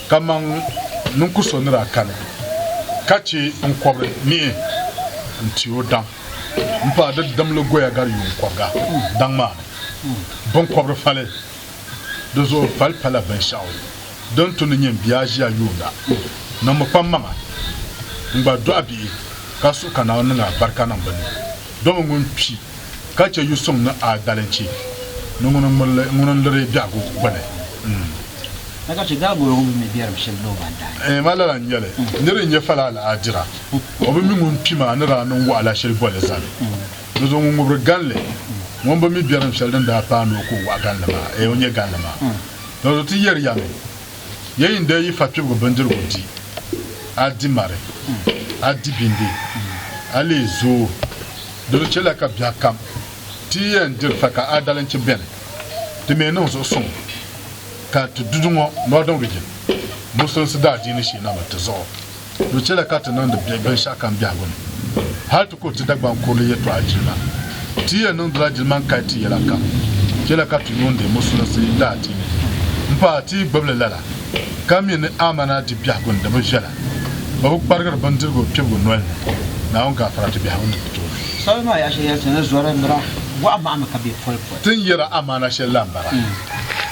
kaman ninkur so ni daa kani ka chɛ n kɔbiri mihi n-ti o daŋ. M paɣa, di dimligoya gari yuun kɔbiga daŋ maa ni biŋkɔbiri fali. Di zuɣu pali pala binshɛɣu din tu ni nyin bia aʒia yuunda. Niŋmi kpam maŋa n-gba dɔɣi bihi ka suhi ka Naawuni niŋ a barika niŋ bɛ ni. Domi ŋun kpi ka chɛ yu suŋ ni a dalinchi ni ŋuni n-liri biɛhigu gbini. N.
Na ka chɛ daa gɔro ŋun mi mi biɛrim shɛli ni o ma n-daai. N. Maa lala n-nyɛ li.
Nir n-nyɛ fala alaadira, o bi mi ŋun kpi maa ni daa niŋ wɔɣila shɛli boli zali. Ni zo ŋun ŋubiri ganli, ŋun bi mi biɛrim shɛli din daa paai ni o ka o waɣa ganli maa, ee o nya ganli maa. Dinzuɣu ti yɛri ya mi, ya yi ni daa yi fakpibigu bindirigu di, a di mari, a di bindi, a lee zooi. Dinzuɣu chɛliya ka biɛɣukam ti yi yɛn diri fa ka a dalinchi beni, ti mi niŋ zuɣusuŋ ka ti duduŋɔ, Northern Region, Muslimsi daadiini shee na mi ti zuɣu. Di chɛla ka ti niŋdi biɛhi binshɛɣu kam biɛhigu ni. Hal ti kuri ti Dagbaŋ kurili yɛtɔɣa jilima. Ti yɛn niŋdila jiliman kali ti yɛla kam. Chɛla ka ti yuun deei Musulinsi daadiini m-paai ti yi gbibi li lala, ka mi ni amana di biɛhigu ni di bi viɛla, bɛ bi kparigiri bindirigu kpibigu noli ni, Naawuni gaafara di biɛhigu ni bɛ tooni. Soli maa yaɣ shɛli yɛli
ti ni zɔri nira, Wahu mahimi ka be poli poli. Ti ni yɛra amaana
shɛli la m-bala,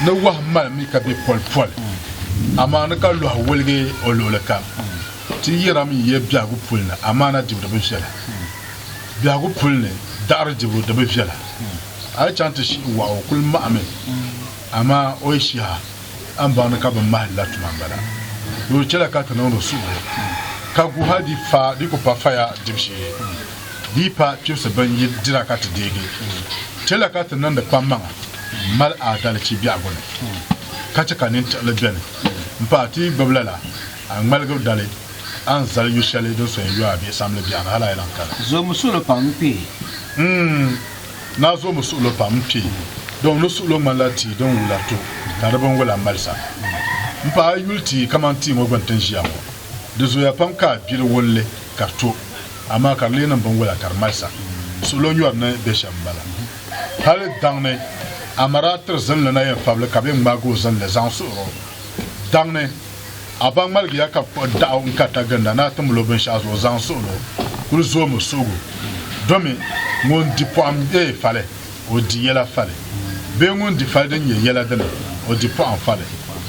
ni wahu malimi ka be poli poli. amaani ka lɔhi woligi o luɣili kam. Ti yɛra mi yiya biɛhigu puli ni amaana dibu di bi viɛla. Biɛhigu puli ni daɣiri dibu di bi viɛla. A yi chaŋ ti shihi waɣa o kuli mahimi amaa o yi shihi a, a ni baŋ ni ka bi mahi li la tuma m-bala. Di daa chɛla ka ti niŋdi suhuri ka guhi a di fa di ku pa faya dibu shee. dii pa kpibisi bin yi dira ka ti deegi. Chɛla ka ti niŋdi kpammaŋa m-mali aadalichi biɛhigu ni, ka chɛ ka nintiɣili beni m-pahi ti yi gbibi lala, a ŋmaligi dali a ni zali yu shɛli din soya yɔa bee samli biɛɣu ni hal a yi lan kali. Zoomi suɣilo pam n-kpee.
N-ŋ!
Naa zoomi suɣilo pam n-kpee. Dɔŋ ni suɣilo ŋmanila tia din wula to ka di binwula malisa. M-pahi a yi yuli tia kaman tia ŋɔ gbini ti ni ʒiya ŋɔ, di zooya pam ka a gbiri wulli ka di to. Amaa ka di lee niŋ binwola ka di malisa, suɣilo nyɔri ni be shɛm m-bala. Hali daŋ ni a mara a tiri zinli na yɛn fabili ka be ŋmaagi o zinli zaŋ suɣir o. Daŋ ni a ba ŋmaligi ya ka kpuɣi daɣu n-kari taginda ni a ti mil o binshɛɣu zuɣu zaŋ suɣil o kul zoomi suɣigu domi ŋun di pɔɣim bee fali o di yɛla fali bee ŋun di fali din nyɛ yɛla dini o di pɔɣim fali.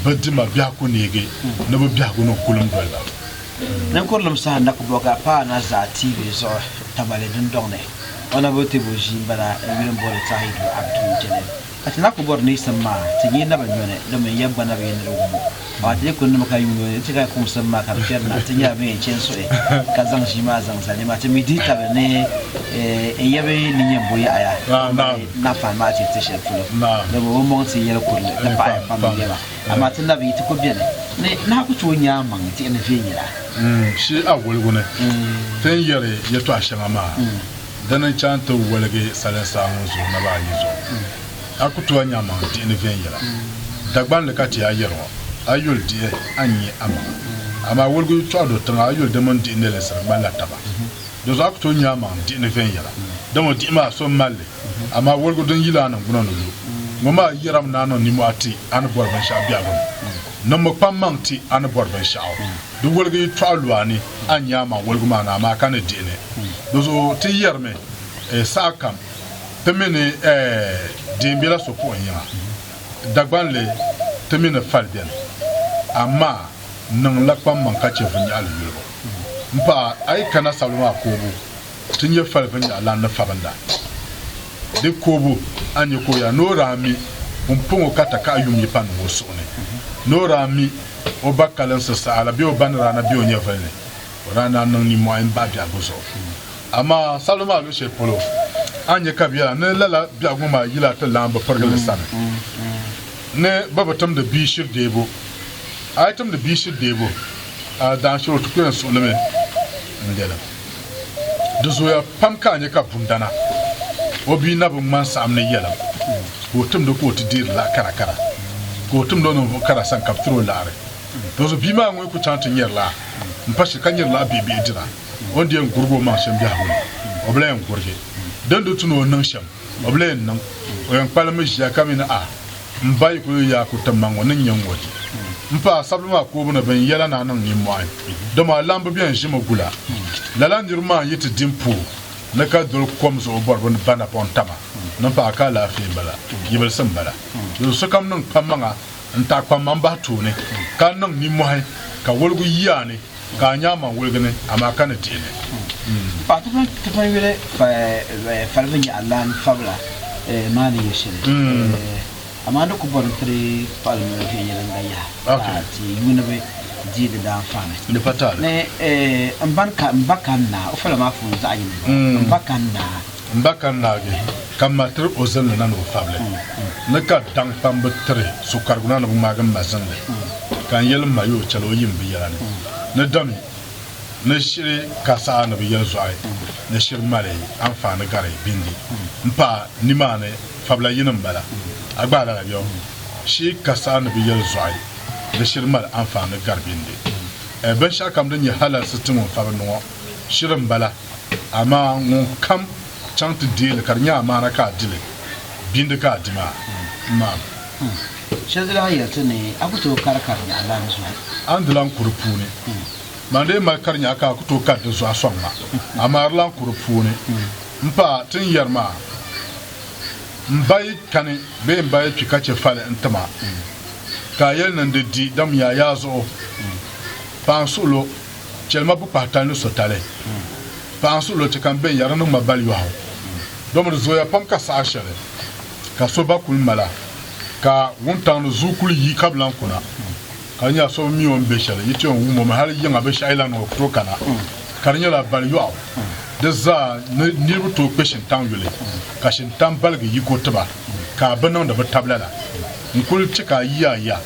Bɛ dima biɛhigu neegi ni bɛ biɛhigu ni kulim doli ba. Ninkurilim
saha nakubɔga paai na zaa tiivi zuɣu tabali dundɔŋ ni. O na bo tibu ʒii m-bala n-yuli m-booni Tahidu Abdul Jalil. Ka ti lahi ku bɔri niisim maa, ti nyɛ naba nyɔni domin ya gba na bi yɛn niri wum o. Amaa ti yi kuli nima ka yuun o ni ti ka kumsim maa ka di kpɛri na, ti nyɛla bɛn yɛn chani suhi ka zaŋ ʒii maa zaŋ zali nima ti mi dihi tabili ni n ya bɛ ni yɛn bo yaɣiya m-mali naɣifahi maa ti ti shɛli polo. Bɛ bɔbɔmɔŋ ti yɛli kurili ti paɣiya pam n-nyɛ ba. Amaa ti labi yi ti ko beni ni nahi ku tooi nya amaŋ tihi ni viɛnyɛla. Shi a
woligu ni ti ni yɛli yɛtɔɣ shɛŋa maa, dini n-chaŋ nti woligi salinsaa ŋun zooi naba ayi zuɣu. A ku tooi nya amaŋ tihi ni viɛnyɛla. Dagbaŋ li ka ti a yɛri ŋɔ, A yuli dihi, a ni nya amaŋa. Amaa woligu yi tɔɣi do tiŋa, a yuli di mini dihi nɛlinsi di ŋmanila taba. Dinzuɣu a ku tooi nya amaŋ tihi ni viɛnyɛla, dama o dihi maa so m-mal li. amaa woligu din yili a ningbuna ni lu ŋɔ maa yɛrimi ni a niŋ nimɔhi ti a ni bɔri binshɛɣu biɛhigu ni. Niŋmi kpaŋmaŋ ti a ni bɔri binshɛɣu. Di woligu yi tɔɣu lu a ni, a ni nya a maŋ woligu maa ni amaa ka ni dihi ni. Dizuɣu ti yɛrimi, Ɛɛ, sahakam ti mi ni ɛɛ deei bela so puɣi yiŋa, Dagbanli ti mi ni fali beni, amaa niŋla kpaŋmaŋ ka chɛ vinyɛhili yolibu m-pahi a yi kana sabili maa koobu. ti nyɛ fali vinnyaɣ lan ni fabinda. Di koobu a nya ka o ya ni o daa mi pumpɔŋɔ ka takahi yum yi pa niŋ o suhu ni. Ni o daa mi o ba kalinsi saha la bee o ba ni daa na be o nyɛvili ni, o daa naan niŋ nimmɔhi m-bahi biɛhigu zuɣu. Amaa sabili maa luɣishɛli polo, a ni nya ka bɛ yɛla ni lala biɛhigu maa yila ti lan bi pirigi li sani ni bɛ bi timdi bia shiri deebu. A yi timdi bia shiri deebu, a daanshiri o ti ku yɛn suɣilimi n-lɛlim. Di zooya pam ka a nya ka bundana o bia na bi ŋmani saɣim ni yɛlim ka o timdi ka o ti deeri laɣ kara kara ka o timdi o ninvuɣ kara sani ka bɛ tiri o laɣiri. Dinzuɣu bia maa ŋun ku chaŋ ti nyari laɣ m pa shili ka nyari laɣ bihibihi dira, o ni di yɛn gurig o maŋ shɛm biɛhigu ni, o bi lahi yɛn gurigi din di tu ni o niŋ shɛm. O bi lee niŋ, o yɛn kpalimi ʒiya ka mi ni a, m ba yi ku yi yaa kuriti ma ŋɔ, ni n-nyɛ ŋ-ŋɔ di. M pa, a sabili maa koobu ni bɛn yɛla ni a niŋ nimmɔhi, dama a lahi bi bɛn ʒi mi gula. Lala niriba maa n-yi ti di m puhi ni ka doli kom zuɣu bɔri bɛ ni ba napɔŋ taba ni m pa a ka alaafee m-bala, yibilisi m-bala. Dinzuɣu sokam niŋ kpammaŋa n-taɣi kpaŋmaŋ bahi tooni, ka niŋ nimmɔhi ka woligu yi a ni. ka a nyaŋ man woligi ni, amaa ka ni dihi li. N paɣa tipa
tipa yuli falibu nyɛ Alain Fabla maa ni yuli shɛli, amaa di ku bɔri ni ti di kpaɣili noli viɛnyɛliŋga yaha ka ti yuuniba dii di daanfaani. Di pa taali. Ni n ba ka n naa, o fala maa puuni zaɣ yini m-bɔŋɔ, m ba ka n naa. M ba ka n naagi
ka m ma tiri o zinli na ni o fabili ni ka daŋkpambu tiri sokparigu na ni bɛ ŋmaagi m ma zinli ka n yɛli m ma yo chɛli o yim bɛ yɛla ni ni dami ni shiri ka saha ni bɛ yɛli zɔhi ni shiri mali anfaani gari bindi m pa nimaani fabila yini m-bala a gba lala yo shi ka saha ni bɛ yɛli zɔhi ni shiri mali anfaani gari bindi binshɛɣukam din nyɛ halalsi ti ŋun fabi ni ŋɔ shiri m-bala. Amaa ŋunkam chaŋ ti deei li ka di nyɛ amaana ka a di li, bindi ka a di maa, m maam. Hum.
Shɛli zaa a yɛli ti ni a ku tooi kari karinyaɣu lan zuɣu. A ni di lan ku di
puuni. Man di yi mali karinyaɣu ka a ku tooi kari di zuɣu a sɔŋ ma, amaa di lan ku di puuni. M pa, ti ni yɛri maa, M ba yi kani bee m ba yi kpi ka chɛ fali n-ti ma, ka a yɛli ni n di di, dam yaa yaa zuɣu, paansuɣilo. Chɛlima bi pahi tali ni sotali. Paɣa n suhi lo chɛ ka n bɛn yɛri ni ŋma bali yɔɣu. Domi di zooya pam ka saha shɛli ka so ba kuli mala ka wuntaŋ ni zuui kuli yi ka bi lan kuna ka di nyɛla so bi mi o ni bɛ shɛli yi ti yɛn wum o mi hali yiŋa binshɛɣu yi lan niŋ o ku tooi kana ka di nyɛla bali yɔɣu di zaa ni niriba tooi kpe shintaŋ yuli ka shintaŋ baligi yiko tiba ka a bi niŋdi bi tabila la n kuli ti ka a yi ya ya.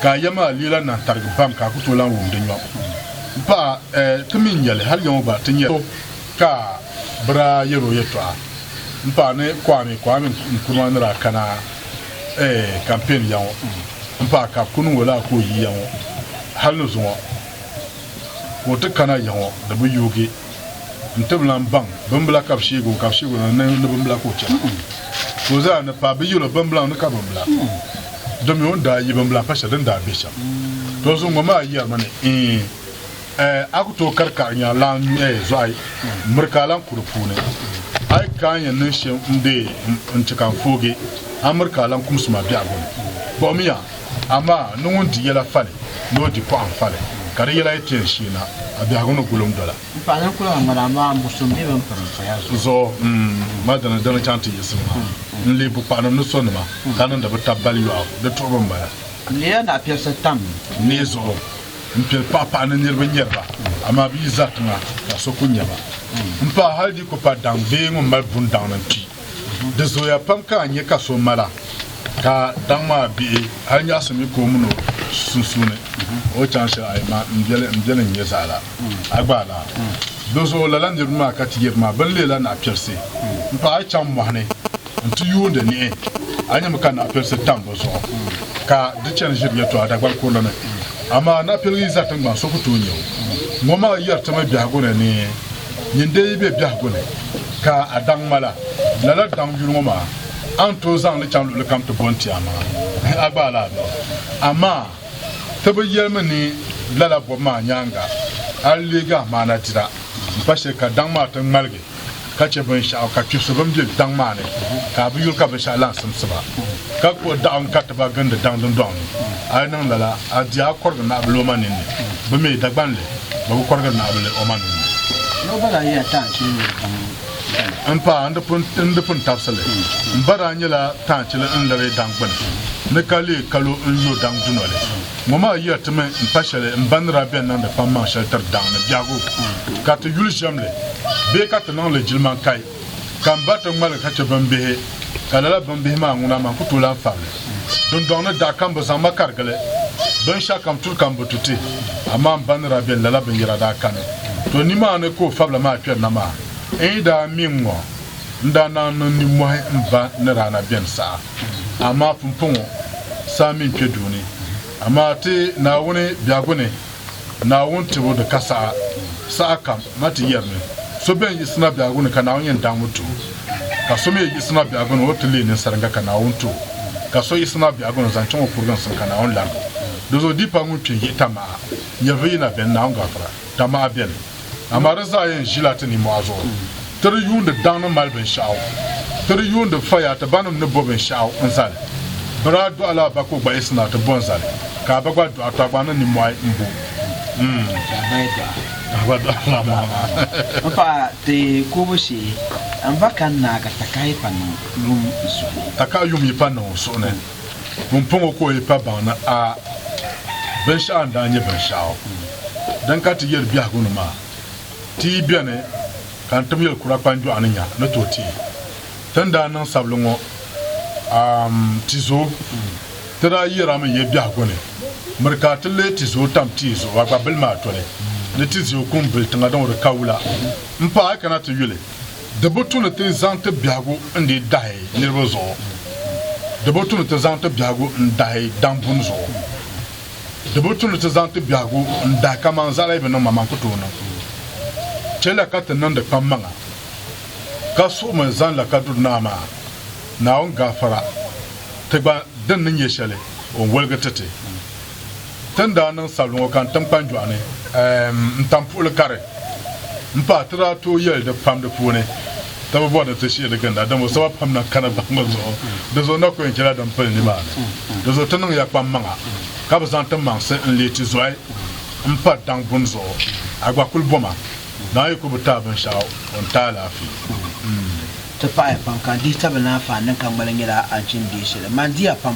ka a yɛm a leela nahi tarigi pam ka a ku tooi lahi wum di nyɔŋ. M paɣa, eh, ti mi n yɛli, hal yaŋɔ gba ti nyɛla so ka a bi daa yɛri o yɛtɔɣa. M paɣa ni Kwame, Kwame n kuruma ni daa kana, eh, campaign yaŋɔ. M paɣa ka bɛ ku niŋ o lala ka o yi yaŋɔ. Hal ni zuŋɔ ka o ti kana yaŋɔ di bi yoogi. n ti bi lan baŋ bimbila ka bi sheeg o ka bi sheeg o ni ni bimbila ka o chɛra. Ka o zaa ni paai, bɛ yil o bimbilaŋ ni ka bimbila. Domi o ni daa yi bimbila pa shɛli din daa be shɛm. Tɔ zuŋ ŋɔ maa yɛrimi ni, Ɛɛn! Ɛɛ! A ku tooi kari kaɣi nya lan nyu ɛɛ zɔɣi miri ka a lan ku di puuni? A yi ka a ni yɛn niŋ shɛm n-deei m, n-chɛ ka n foogi a miri ka a lan kumsi ma biɛhigu ni. Kpuɣimiya! Amaa ni ŋun di yɛla fali ni o di pɔɣim fali, ka di yɛla yi ti yɛn sheei na, a biɛhigu ni gulim dɔla. M paɣ din kuli ŋan ŋɔ
maa, m bu so m mi bɛn piri m paya zuɣu. Zuɣu, m
ma dini di ni chaŋ ti yiɣisi ma. N leei bukpaɣinim ni so nima, ka niŋdi bɛ tab bali yɔɣu, di tuɣibu m-bala. N leela naɣipiɛlisi
tam. Mii zuɣu,
m piɛli paɣa paɣa ni niriba nyari ba, amaa bɛ yi zari tiŋa, ka so ku nya ba. M paɣ hal di yi ku pa daŋ bee ŋun mali buni daŋ ni n kpi. Di zooya pam ka a nya ka so mala ka daŋ maa bihi hal nyaɣisi mi ka o min o sunsuuni o chaŋ shɛli a yi ma m-beli n-nyɛ zaɣ la, a gbaai la. Dinzuɣu lala niriba maa ka ti yiri ma, Bɛ ni leei la naɣipiɛlsi m-paɣ a yi chaŋ mɔɣu ni nti yuundi niɣi, a nyami ka naɣipiɛlsi tam bɛ zuɣu ka di chani ʒiri yɛtɔɣa Dagban kurili ni. Amaa naɣipiɛliga yi za tiŋgbani so ku tooi nya o. Ŋɔ maa yɛri ti mi biɛhigu ni ni nyin dee yi be biɛhigu ni. ka a daŋ ma la, lala daŋ yuli ŋɔ maa, a ni tooi zaŋ li chaŋ luɣili kam ti bɔn ti a maŋa, a gbaai la a nuu. Amaa ti bi yɛli mi ni lala bɔbu maa nyaaŋa a ni leegi a maana dira m-pa shili ka daŋ maa ti ŋmaligi ka che binshɛɣu ka kpibisi bɛn be daŋ maa ni ka a bi yuli ka binshɛɣu lan simsi ba ka kpuɣi daɣu n-kariti ba gindi daŋ dundɔŋ ni. A yi niŋ lala, a di a kɔrigi naɣibiloma ninni bɛ mi Dagbanli. bɛ bi kɔrigiri Naawuni o maŋ nini. Niriba daa yiya taai
chili niriba
pam dana. N paɣa, n di pun tabisi li. M ba daa nyɛla taai chili n liri daŋ gbini, ni ka leei kalo n yo daŋ dunoli. Ŋɔ maa yiya timi m pa shɛli m ba ni daa beni niŋdi kpaŋmaŋ shɛli tiri daŋ ni biɛhigu, ka ti yuli ʒiɛm li bee ka ti niŋ li jilimankai. ka m ba ti ŋmali ka chɛ bimbihi, ka lala bimbihi maa ŋuna maa n ku tooi lahi fari li. Dundɔŋ ni daa kam bɛ zaŋ ma karigi li. Binshɛkam turi kam bi tu ti, amaa m ba ni daa beni lala binyɛra daa kani. Tɔ! Nimaani ka o fabila maa kpɛri na maa. N yi daa mi n ŋɔ, n daa naan niŋ nimmɔhi m ba ni daa na beni saha, amaa pumpɔŋɔ saa mi n kpe duu ni. Amaa ti Naawuni biɛhigu ni, Naawuni tibu ni ka saha, saha kam, na ti yɛri ni, So bɛn yiɣisi na biɛhigu ni ka Naawuni yɛn daŋmi ti o, ka so mi yiɣisi na biɛhigu ni o ti leei ninsariga ka Naawuni ti o, ka so yiɣisi na biɛhigu ni zaŋ chaŋ o kuriginsim ka Naawuni larigi o. Dinzuɣu di pa ŋun kpe yiɣita maha, nyɛviyi na beni, Naawuni gafira, ta maha beni. amaa di zaa yɛn ʒila ti nimɔhi zuɣu. Ti di yuundi daŋ ni mali binshɛɣu. Ti di yuundi faya ti banim ni bo binshɛɣu n-zali. Bɛ daa dɔɣila a ba ka o gba yiɣisi na ti bo n-zali, ka a ba gba dɔɣi ka gba niŋ nimɔhi
m-bo
o. pumpɔŋɔ ka o yi pa baŋ ni a binshɛɣu n-daa nyɛ binshɛɣu din ka ti yɛli biɛhigu ni maa, ti yi beni ka n tim yɛl kura kpanjɔɣu ni nya ni tooi teei ti ni daa niŋ sabili ŋɔ a Tizo ti daa yɛra mi ya biɛhigu ni miri ka a ti leei Tizo tam tia zuɣu a gba bili mi a toli ni Tizio kum bili tiŋa din o di ka wula m-paai kana ti yuli. Di bi tu ni ti zaŋ ti biɛhigu n-dii dahi niriba zuɣu. Di bi tu ni ti zaŋ ti biɛhigu n-dahi daŋbuni zuɣu. Di bi tu ni ti zaŋ ti biɛhigu n-dahi kaman zaɣila yi bi niŋ ma man ku tooi niŋ. Chɛ la ka ti niŋdi kpammaŋa, ka suɣimi zaŋ la ka duri naa maa, Naawuni gaafara ti gba din ni nyɛ shɛli o ni woligi ti ti. Ti ni daa niŋ sabili ŋɔ ka n tim kpanjɔɣu ni eem n tam puɣili kari m pahi ti daa tooi yɛli di pam di puuni ti bi bɔri ni ti shihi di ginda dama o saba pam na kana bahigu zuɣu di zuɣu na ku yɛn chɛla din pili nimaani di zuɣu ti niŋ ya kpammaŋa ka bi zaŋ ti maŋsi n leei tizɔhi m pa daŋ buni zuɣu a gba kuli bɔma dama yi ku bi taai binshɛɣu o ni ti alaafee. Ti paɣi ya
pam ka n dihi tabili ni anfaani din ka ŋmali nyɛla a ni chim deei shɛli. Mani di ya pam.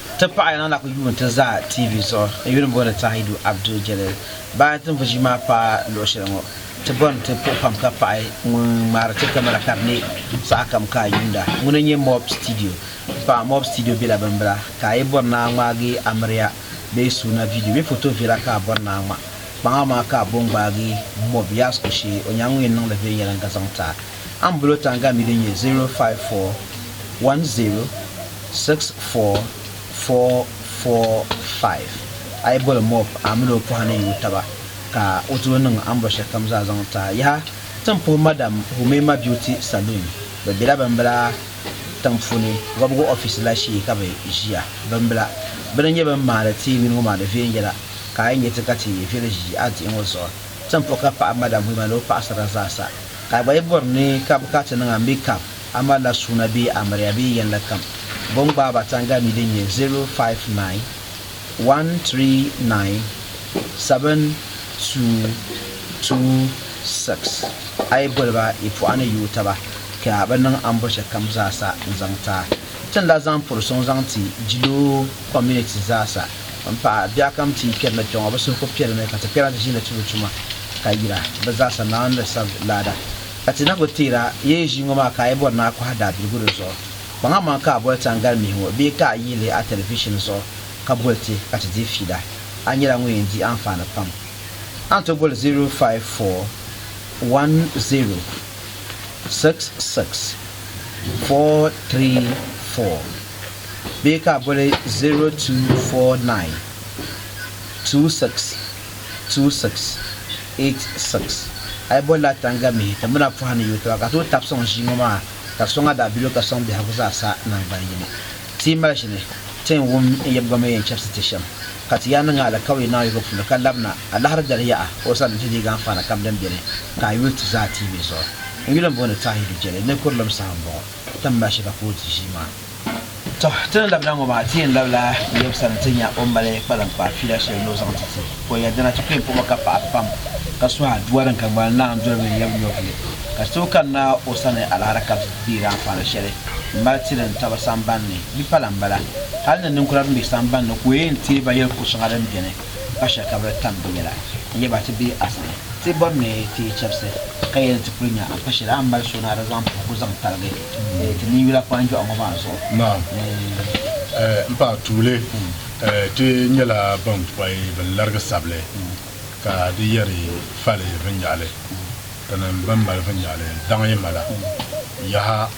Ti paɣa yɛla na ku yuun ti za TV zuɣu n yuli m-booni Tahidu Abdul Jalil. Bahi ti ni vuji maa paai luɣ shɛli ŋɔ, ti bɔri ni ti puhi pam ka paɣi ŋun ŋmaari ti kamara ka di ne sahakam ka a yuunda. Ŋuni n-nyɛ Mob Studio. M paɣa Mob Studio bela bimbila ka a yi bɔri ni a ŋmaagi amiriya bee suuna vidiyo bee foto viɛla ka a bɔri ni a ŋma. Kpaŋa maa ka a bo n-gbaagi Mob Yasco shee o nyaaŋa o yɛn niŋ li viɛnyɛliŋga zaŋ ti a. A ni bolo taŋga mi din nyɛ 0541064445. A yi boli Moab, a min o pɔha ni yuui taba, ka o ti lo niŋ a ni bɔ shɛlikam zaa zaŋ ti a. Yaha! Ti ni puhi Madam Hume mabio ti Salun. Bɛ bela bimbila tiŋ puuni wɔbigu ɔfisi la shee ka bɛ ʒia. Bimbila. Bɛ ni nyɛ bɛn maani ti nini ŋɔ maa di viɛn yɛla, ka a yi nya ti ka ti viɛli ʒi a diɣi ŋɔ zuɣu. Ti ni puhi ka paɣi Madam Hume ni o paɣisara zaa sa Ka a gba yi bɔri ni ka bɛ ka ti niŋ a ni bɛ kab a malila suuna bee amiliya bee yɛnli kam, bɛ ni gbaai ba taŋgalimi din nyɛ 059-139-7226, a yi boli ba yi puɣa ni yooi taba ka bɛ niŋ ambɔcha kam zaasa n-zaŋ ti a. Ti ni daa zaŋ puri sɔŋ zaŋ ti Jiloo community zaasa. M paɣa, bɛ a kam ti yi kpɛri na kpe ŋɔ, bɛ suhu ku piɛli mi ka ti kpɛra ti ʒiinli tubu tuma, ka yira, bɛ zaa sa Naawuni ni sab laada. Ka ti na ku teer a, yi yi ʒii ŋɔ maa ka a yi bɔri ni a kɔhi daabiligu di zuɣu, kpaŋmaŋ ka a boli taŋgali mihi ŋɔ bee ka a yi lihi a tɛlivishin zuɣu ka boli ti ka ti dii fiida, a nyɛla ŋun yɛn di anfaani pam. A ni tooi boli 054106634. bee ka a boli 0249262686. A yi boli la Tanga mihi timbina pɔha ni yuui tiba ka tooi tabi sɔŋ ʒii ŋɔ maa ka sɔŋ a daabiligu ka sɔŋ biɛhigu zaa sa naŋgban yini. Ti yi mali ʒini, ti yɛn wum n yɛbigɔmi yɛn chɛbisi ti shɛm, ka ti yaa niŋ a alikauli naawuni yiko puuni ka labina a lahiri dali yaha o sani nti deegi anfaana kam din beni ka a yuli ti zaa tiibe zuɣu. N yuli m-booni Tahiru Jɛli ni Kurilim saha m-bɔŋɔ, ti ni mali shɛba ka o di ʒii maa. Tɔ! Ti ni labina ŋɔ maa, ti yɛn labila Yɔb sani ti nya o ni mali kpaliŋkpaa fiila shɛli ni o zaŋ ti ti o ya. Dina ti kuli puɣimi ka paɣa pam ka suhi aduwa din ka ŋmaligi naai n-doli bɛ ni yab nyɔvili. Ka ti tooi kanna o sani alaara ka bɛ deeri anfaani shɛli m-mali ti din tabi samban ni. Di pala m-bala, hal ni ninkura bɛn be samban ni ka o yɛn teei ba yɛli kur shɛŋa din beni pa shɛli ka bɛ di tam bɛ yɛla n-yɛ ba ti be a sani. Ti bɔri ni ti yi chɛbisi ka yɛli ni ti kuli nya a ni pa shɛli a ni mali so ni a di zaŋ puhigu zaŋ taligi. ti ni yula kpanjɔɣu ŋɔ maa zuɣu.
Naam. M paɣ tuuli, ti nyɛla bɛn pɔi bɛn larigi sabili ka di yɛri fali vinnyaɣili tinim bɛn mali vinnyaɣili daŋ yi mala. Yaha!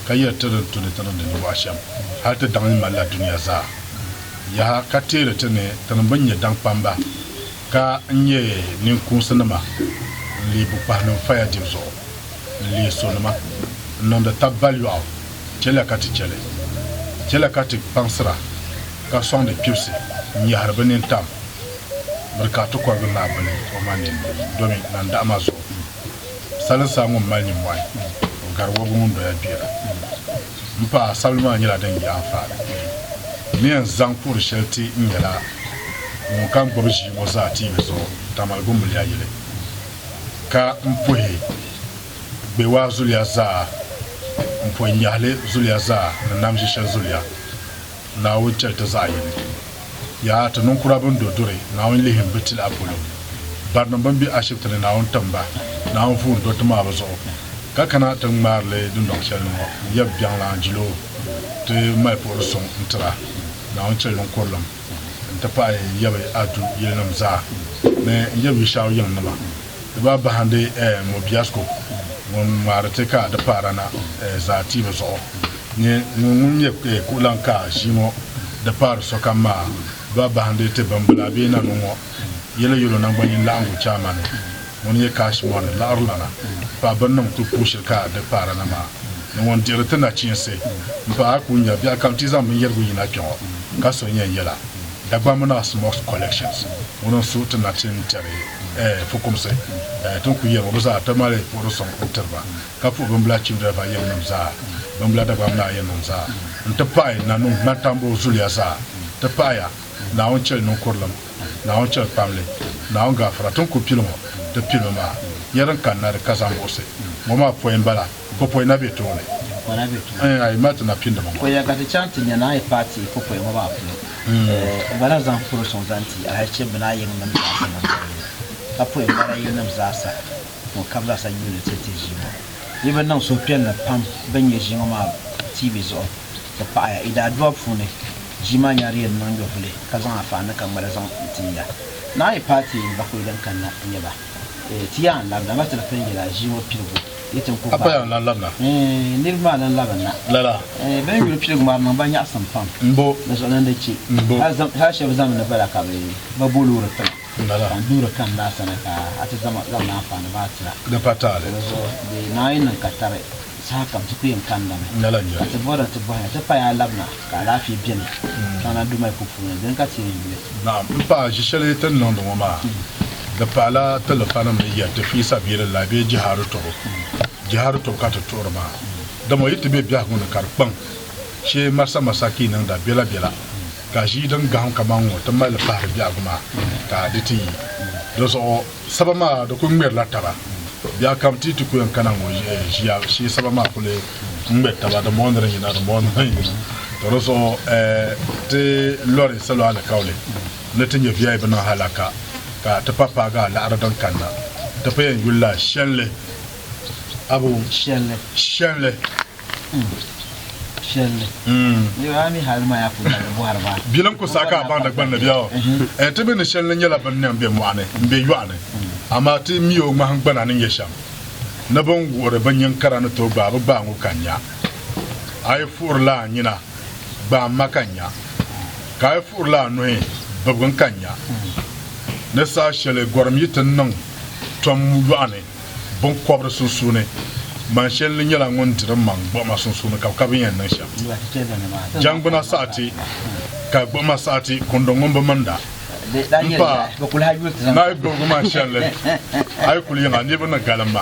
Ka yɛri ti ni tu ni ti niŋdi ninmɔɣu shɛm hal ti daŋ yi malila dunia zaa? Yaha! Ka teeri ti ni tinim bɛn nyɛ daŋkpamba Ka n nyɛ ninkuunsinima n-leei bukpahinim faya dibu zuɣu, n-leei sonima n-niŋdi tab baliyɔɣu, chɛliya ka ti chɛli, chɛliya ka ti kpaŋsira, ka sɔŋdi kpibisi n-nyɛhiri bɛ nini tam miri ka ti kɔrigi naa bili o ma nini ni, domi nandahima zuɣu salinsaa ŋun mali nimmɔhi, o gari wɔbigu ŋun doya gbera. M paɣa, sabili maa nyɛla din yi anfaani polo. N ni yɛn zaŋ kuɣiri shɛli ti n nyɛla ŋun ka gbubi ʒii ŋɔ zaa tiivi zuɣu Tamale Gumbiliya yili ka m puhi Gbewaa zuliya zaa, m puhi Nyahili zuliya zaa ni Namʒishɛli zuliya Naawuni chɛli ti zaɣ yini. Yaa ti niŋkura bɛn do duri, Naawuni lihim bɛ tila polo. Barinim bɛn be ashibiti ni, Naawuni tim ba, Naawuni vuun do ti maa bɛ zuɣu. Ka kana ti ŋmaari li dundɔŋ shɛli ni ŋɔ, n yab biɛŋla jilo ti mali puhiri suŋ n-tira Naawuni chɛli niŋkurilim, n-ti pahi n yab Adu yilinim zaa ni n yab Yishau yiŋnima. Di ba bahindi Mobiasco ŋun ŋmaari ti ka di paara na zaa tiibu zuɣu ni ŋun ŋun nyɛ kuɣulaŋ ka ʒii ŋɔ di paari sokam maa. Di ba bahindi ti bimbila bee nanu ŋɔ yɛli yolo naŋgbanyin laɣingu chaamani ŋun nyɛ Cash Money laɣirilana paai bini niŋ ti puu shili ka di paara na maa ni ŋun dihiri ti nachiinsi m-paai a ku nya biɛɣukam ti zaŋ binyɛrigu yina kpe ŋɔ ka so nyɛ n yɛla Dagbaŋ mini Asmok's Collections ŋuni n suhi ti nachin tɛri ɛɛh fukumsi ɛɛh ti ni kuli yɛli ŋɔ bɛ zaa ti mali puɣiri sɔŋ n tiri ba ka puhi bimbila Chimdalva yili nim zaa bimbila Dagbaŋ mini Ayɛn nim zaa n ti pahi Nanum Nantambo zuliya zaa ti pahiya Naawuni chɛli ninkurilim Naawuni chɛli kpamli Naawuni gaafara ti ni kuli pili ŋɔ ti pilimi maa ya din kanna di ka zaŋ buɣisi ŋɔ maa pɔi m bala. Popoi na be tooni. Ɛɛn a
yi mali ti napindima
ŋɔ. Ko ya ka ti chaŋ ti nya
ni a yi paai ti popoi ŋɔ maa polo. Ɛɛn gba na zaŋ puri suŋ zaŋ ti Alahichi bini a yiŋnim zaasa ni bɔbili ka poi n mali a yiŋnim zaasa ni o kab zaasa yuuni ti ti ʒii ŋɔ. Yi bi niŋ suhupiɛlli pam bini nya ʒii ŋɔ maa tiibi zuɣu ti paɣi ya. Yi daadua puuni ʒii maa nya di yɛn niŋ nyɔvuli ka zaŋ a fahi ni ka ŋmali zaŋ n ti ya. Ni a yi paai ti n bakoi din kanna n-nyɛ ba. Ɛɛn ti yaan labina ba ti di pili yɛla ʒii ŋɔ piligu. Ka paya n-lan labina.
Niriba maa lan
labinna. Lala. Bɛ
ni yuli piligu
maa niŋ ba nyaɣisim pam. M-bo. Ni suɣulana di
che.
M-bo. Hal shɛba zami ni bala ka bɛ ba bo loori tiŋa. Lala. Ka n duhiri
kani daa
sani ka a ti zaŋ ma anfaani ba atira. Di pa taali. Di zuɣu
di naai
niŋ ka tari sahakam ti ku yɛn kandami. Lala n-nyɛ. Ka ti bɔhiri a ti
bɔhina ti
paya a labina. ka alaafee beni Ghana Dumai Ku puuni, dini ka ti yi yuli?
Naɣim, m paɣa, ʒi shɛli ti ni niŋdi ŋɔ maa di pahila ti lifanim ni yɛri ti fiisa bee di lahi be jihadi tɔbu. Jihadi tɔbu ka ti tuhiri maa, dama o yi ti be biɛhigu ni ka di kpaŋ shee Marsa Masaki niŋda bela bela ka ʒii din gahim kaman ŋɔ ti mali li pahiri biɛhigu maa ka di ti yi di zuɣu. Saba maa di kuli ŋmɛrila taba biɛɣu kam ti yi ti ku yɛn kana ŋɔ ʒiya shee saba maa kuli ŋmɛri taba di mɔɣu ni di yina di mɔɣu ni di yina to di zuɣu ti lɔri salo alikauli ni ti nyɛ VI bi niŋ halaka ka ti pa paagi a laɣiri din kanna ti pa yɛn yuli la shɛnli abu shɛnli.
Bilim ku saai ka a baŋ
Dagbaŋ ni bɛ o. Ti mi ni shɛli ni nyɛla bini niŋ bɛ mɔɣu ni m-be yɔɣu ni, amaa ti mi o ŋmahingbana ni nyɛ shɛm ni bini wuhiri bɛ nyin kara ni tooi gbaai bɛ gbaai ŋɔ ka nya. A yi fuɣirila a nyina, gbaai ma ka nya, ka a yi fuɣirila a nuhi, bibigi n ka nya. Ni saha shɛli gɔrim yi ti niŋ tom yɔɣu ni. biŋkɔbiri sunsuuni, man shɛli ni nyɛla ŋun di din maŋ gbuɣima sunsuuni ka bi ka binyɛn niŋ shɛm. Jɛŋgbuna saɣiti ka gbuɣima saɣiti kundi ŋun bi minda m-pa
naai gbuɣigu man shɛli li,
a yi kuli yiŋa
niriba ni galim ma.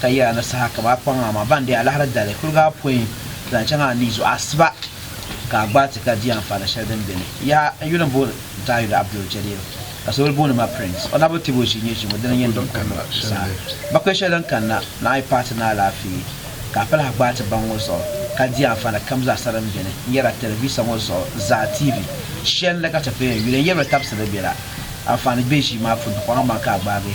ka yɛra ni saha ka bɛ a kpaŋ a maa ban di alahira dali kuliga apɔin zaŋ chaŋ a ni zuɣu asiba ka a gbaai ti ka di anfaani shɛli din be ni. Yaha! N yuli m-booni Dawuda Abdul Jalil ka sokoli booni ma Prince. O naba tibu ʒii nyɛ ʒiŋɔ dini n-yɛn niŋ kɔŋɔ saha. Bakuli shɛli din kanna ni a yi paai ti ni alaafee ka a palahi gbaai ti baŋ ŋɔ zuɣu ka di anfaani kam zaa sa din be ni n-yɛra tɛlivisa ŋɔ zuɣu zaa TV shɛli ni ka ti pun yɛn yuli n-yɛbiri tabisiri bɛ la anfaani be ʒii maa puuni kpaŋa maa ka a gbaagi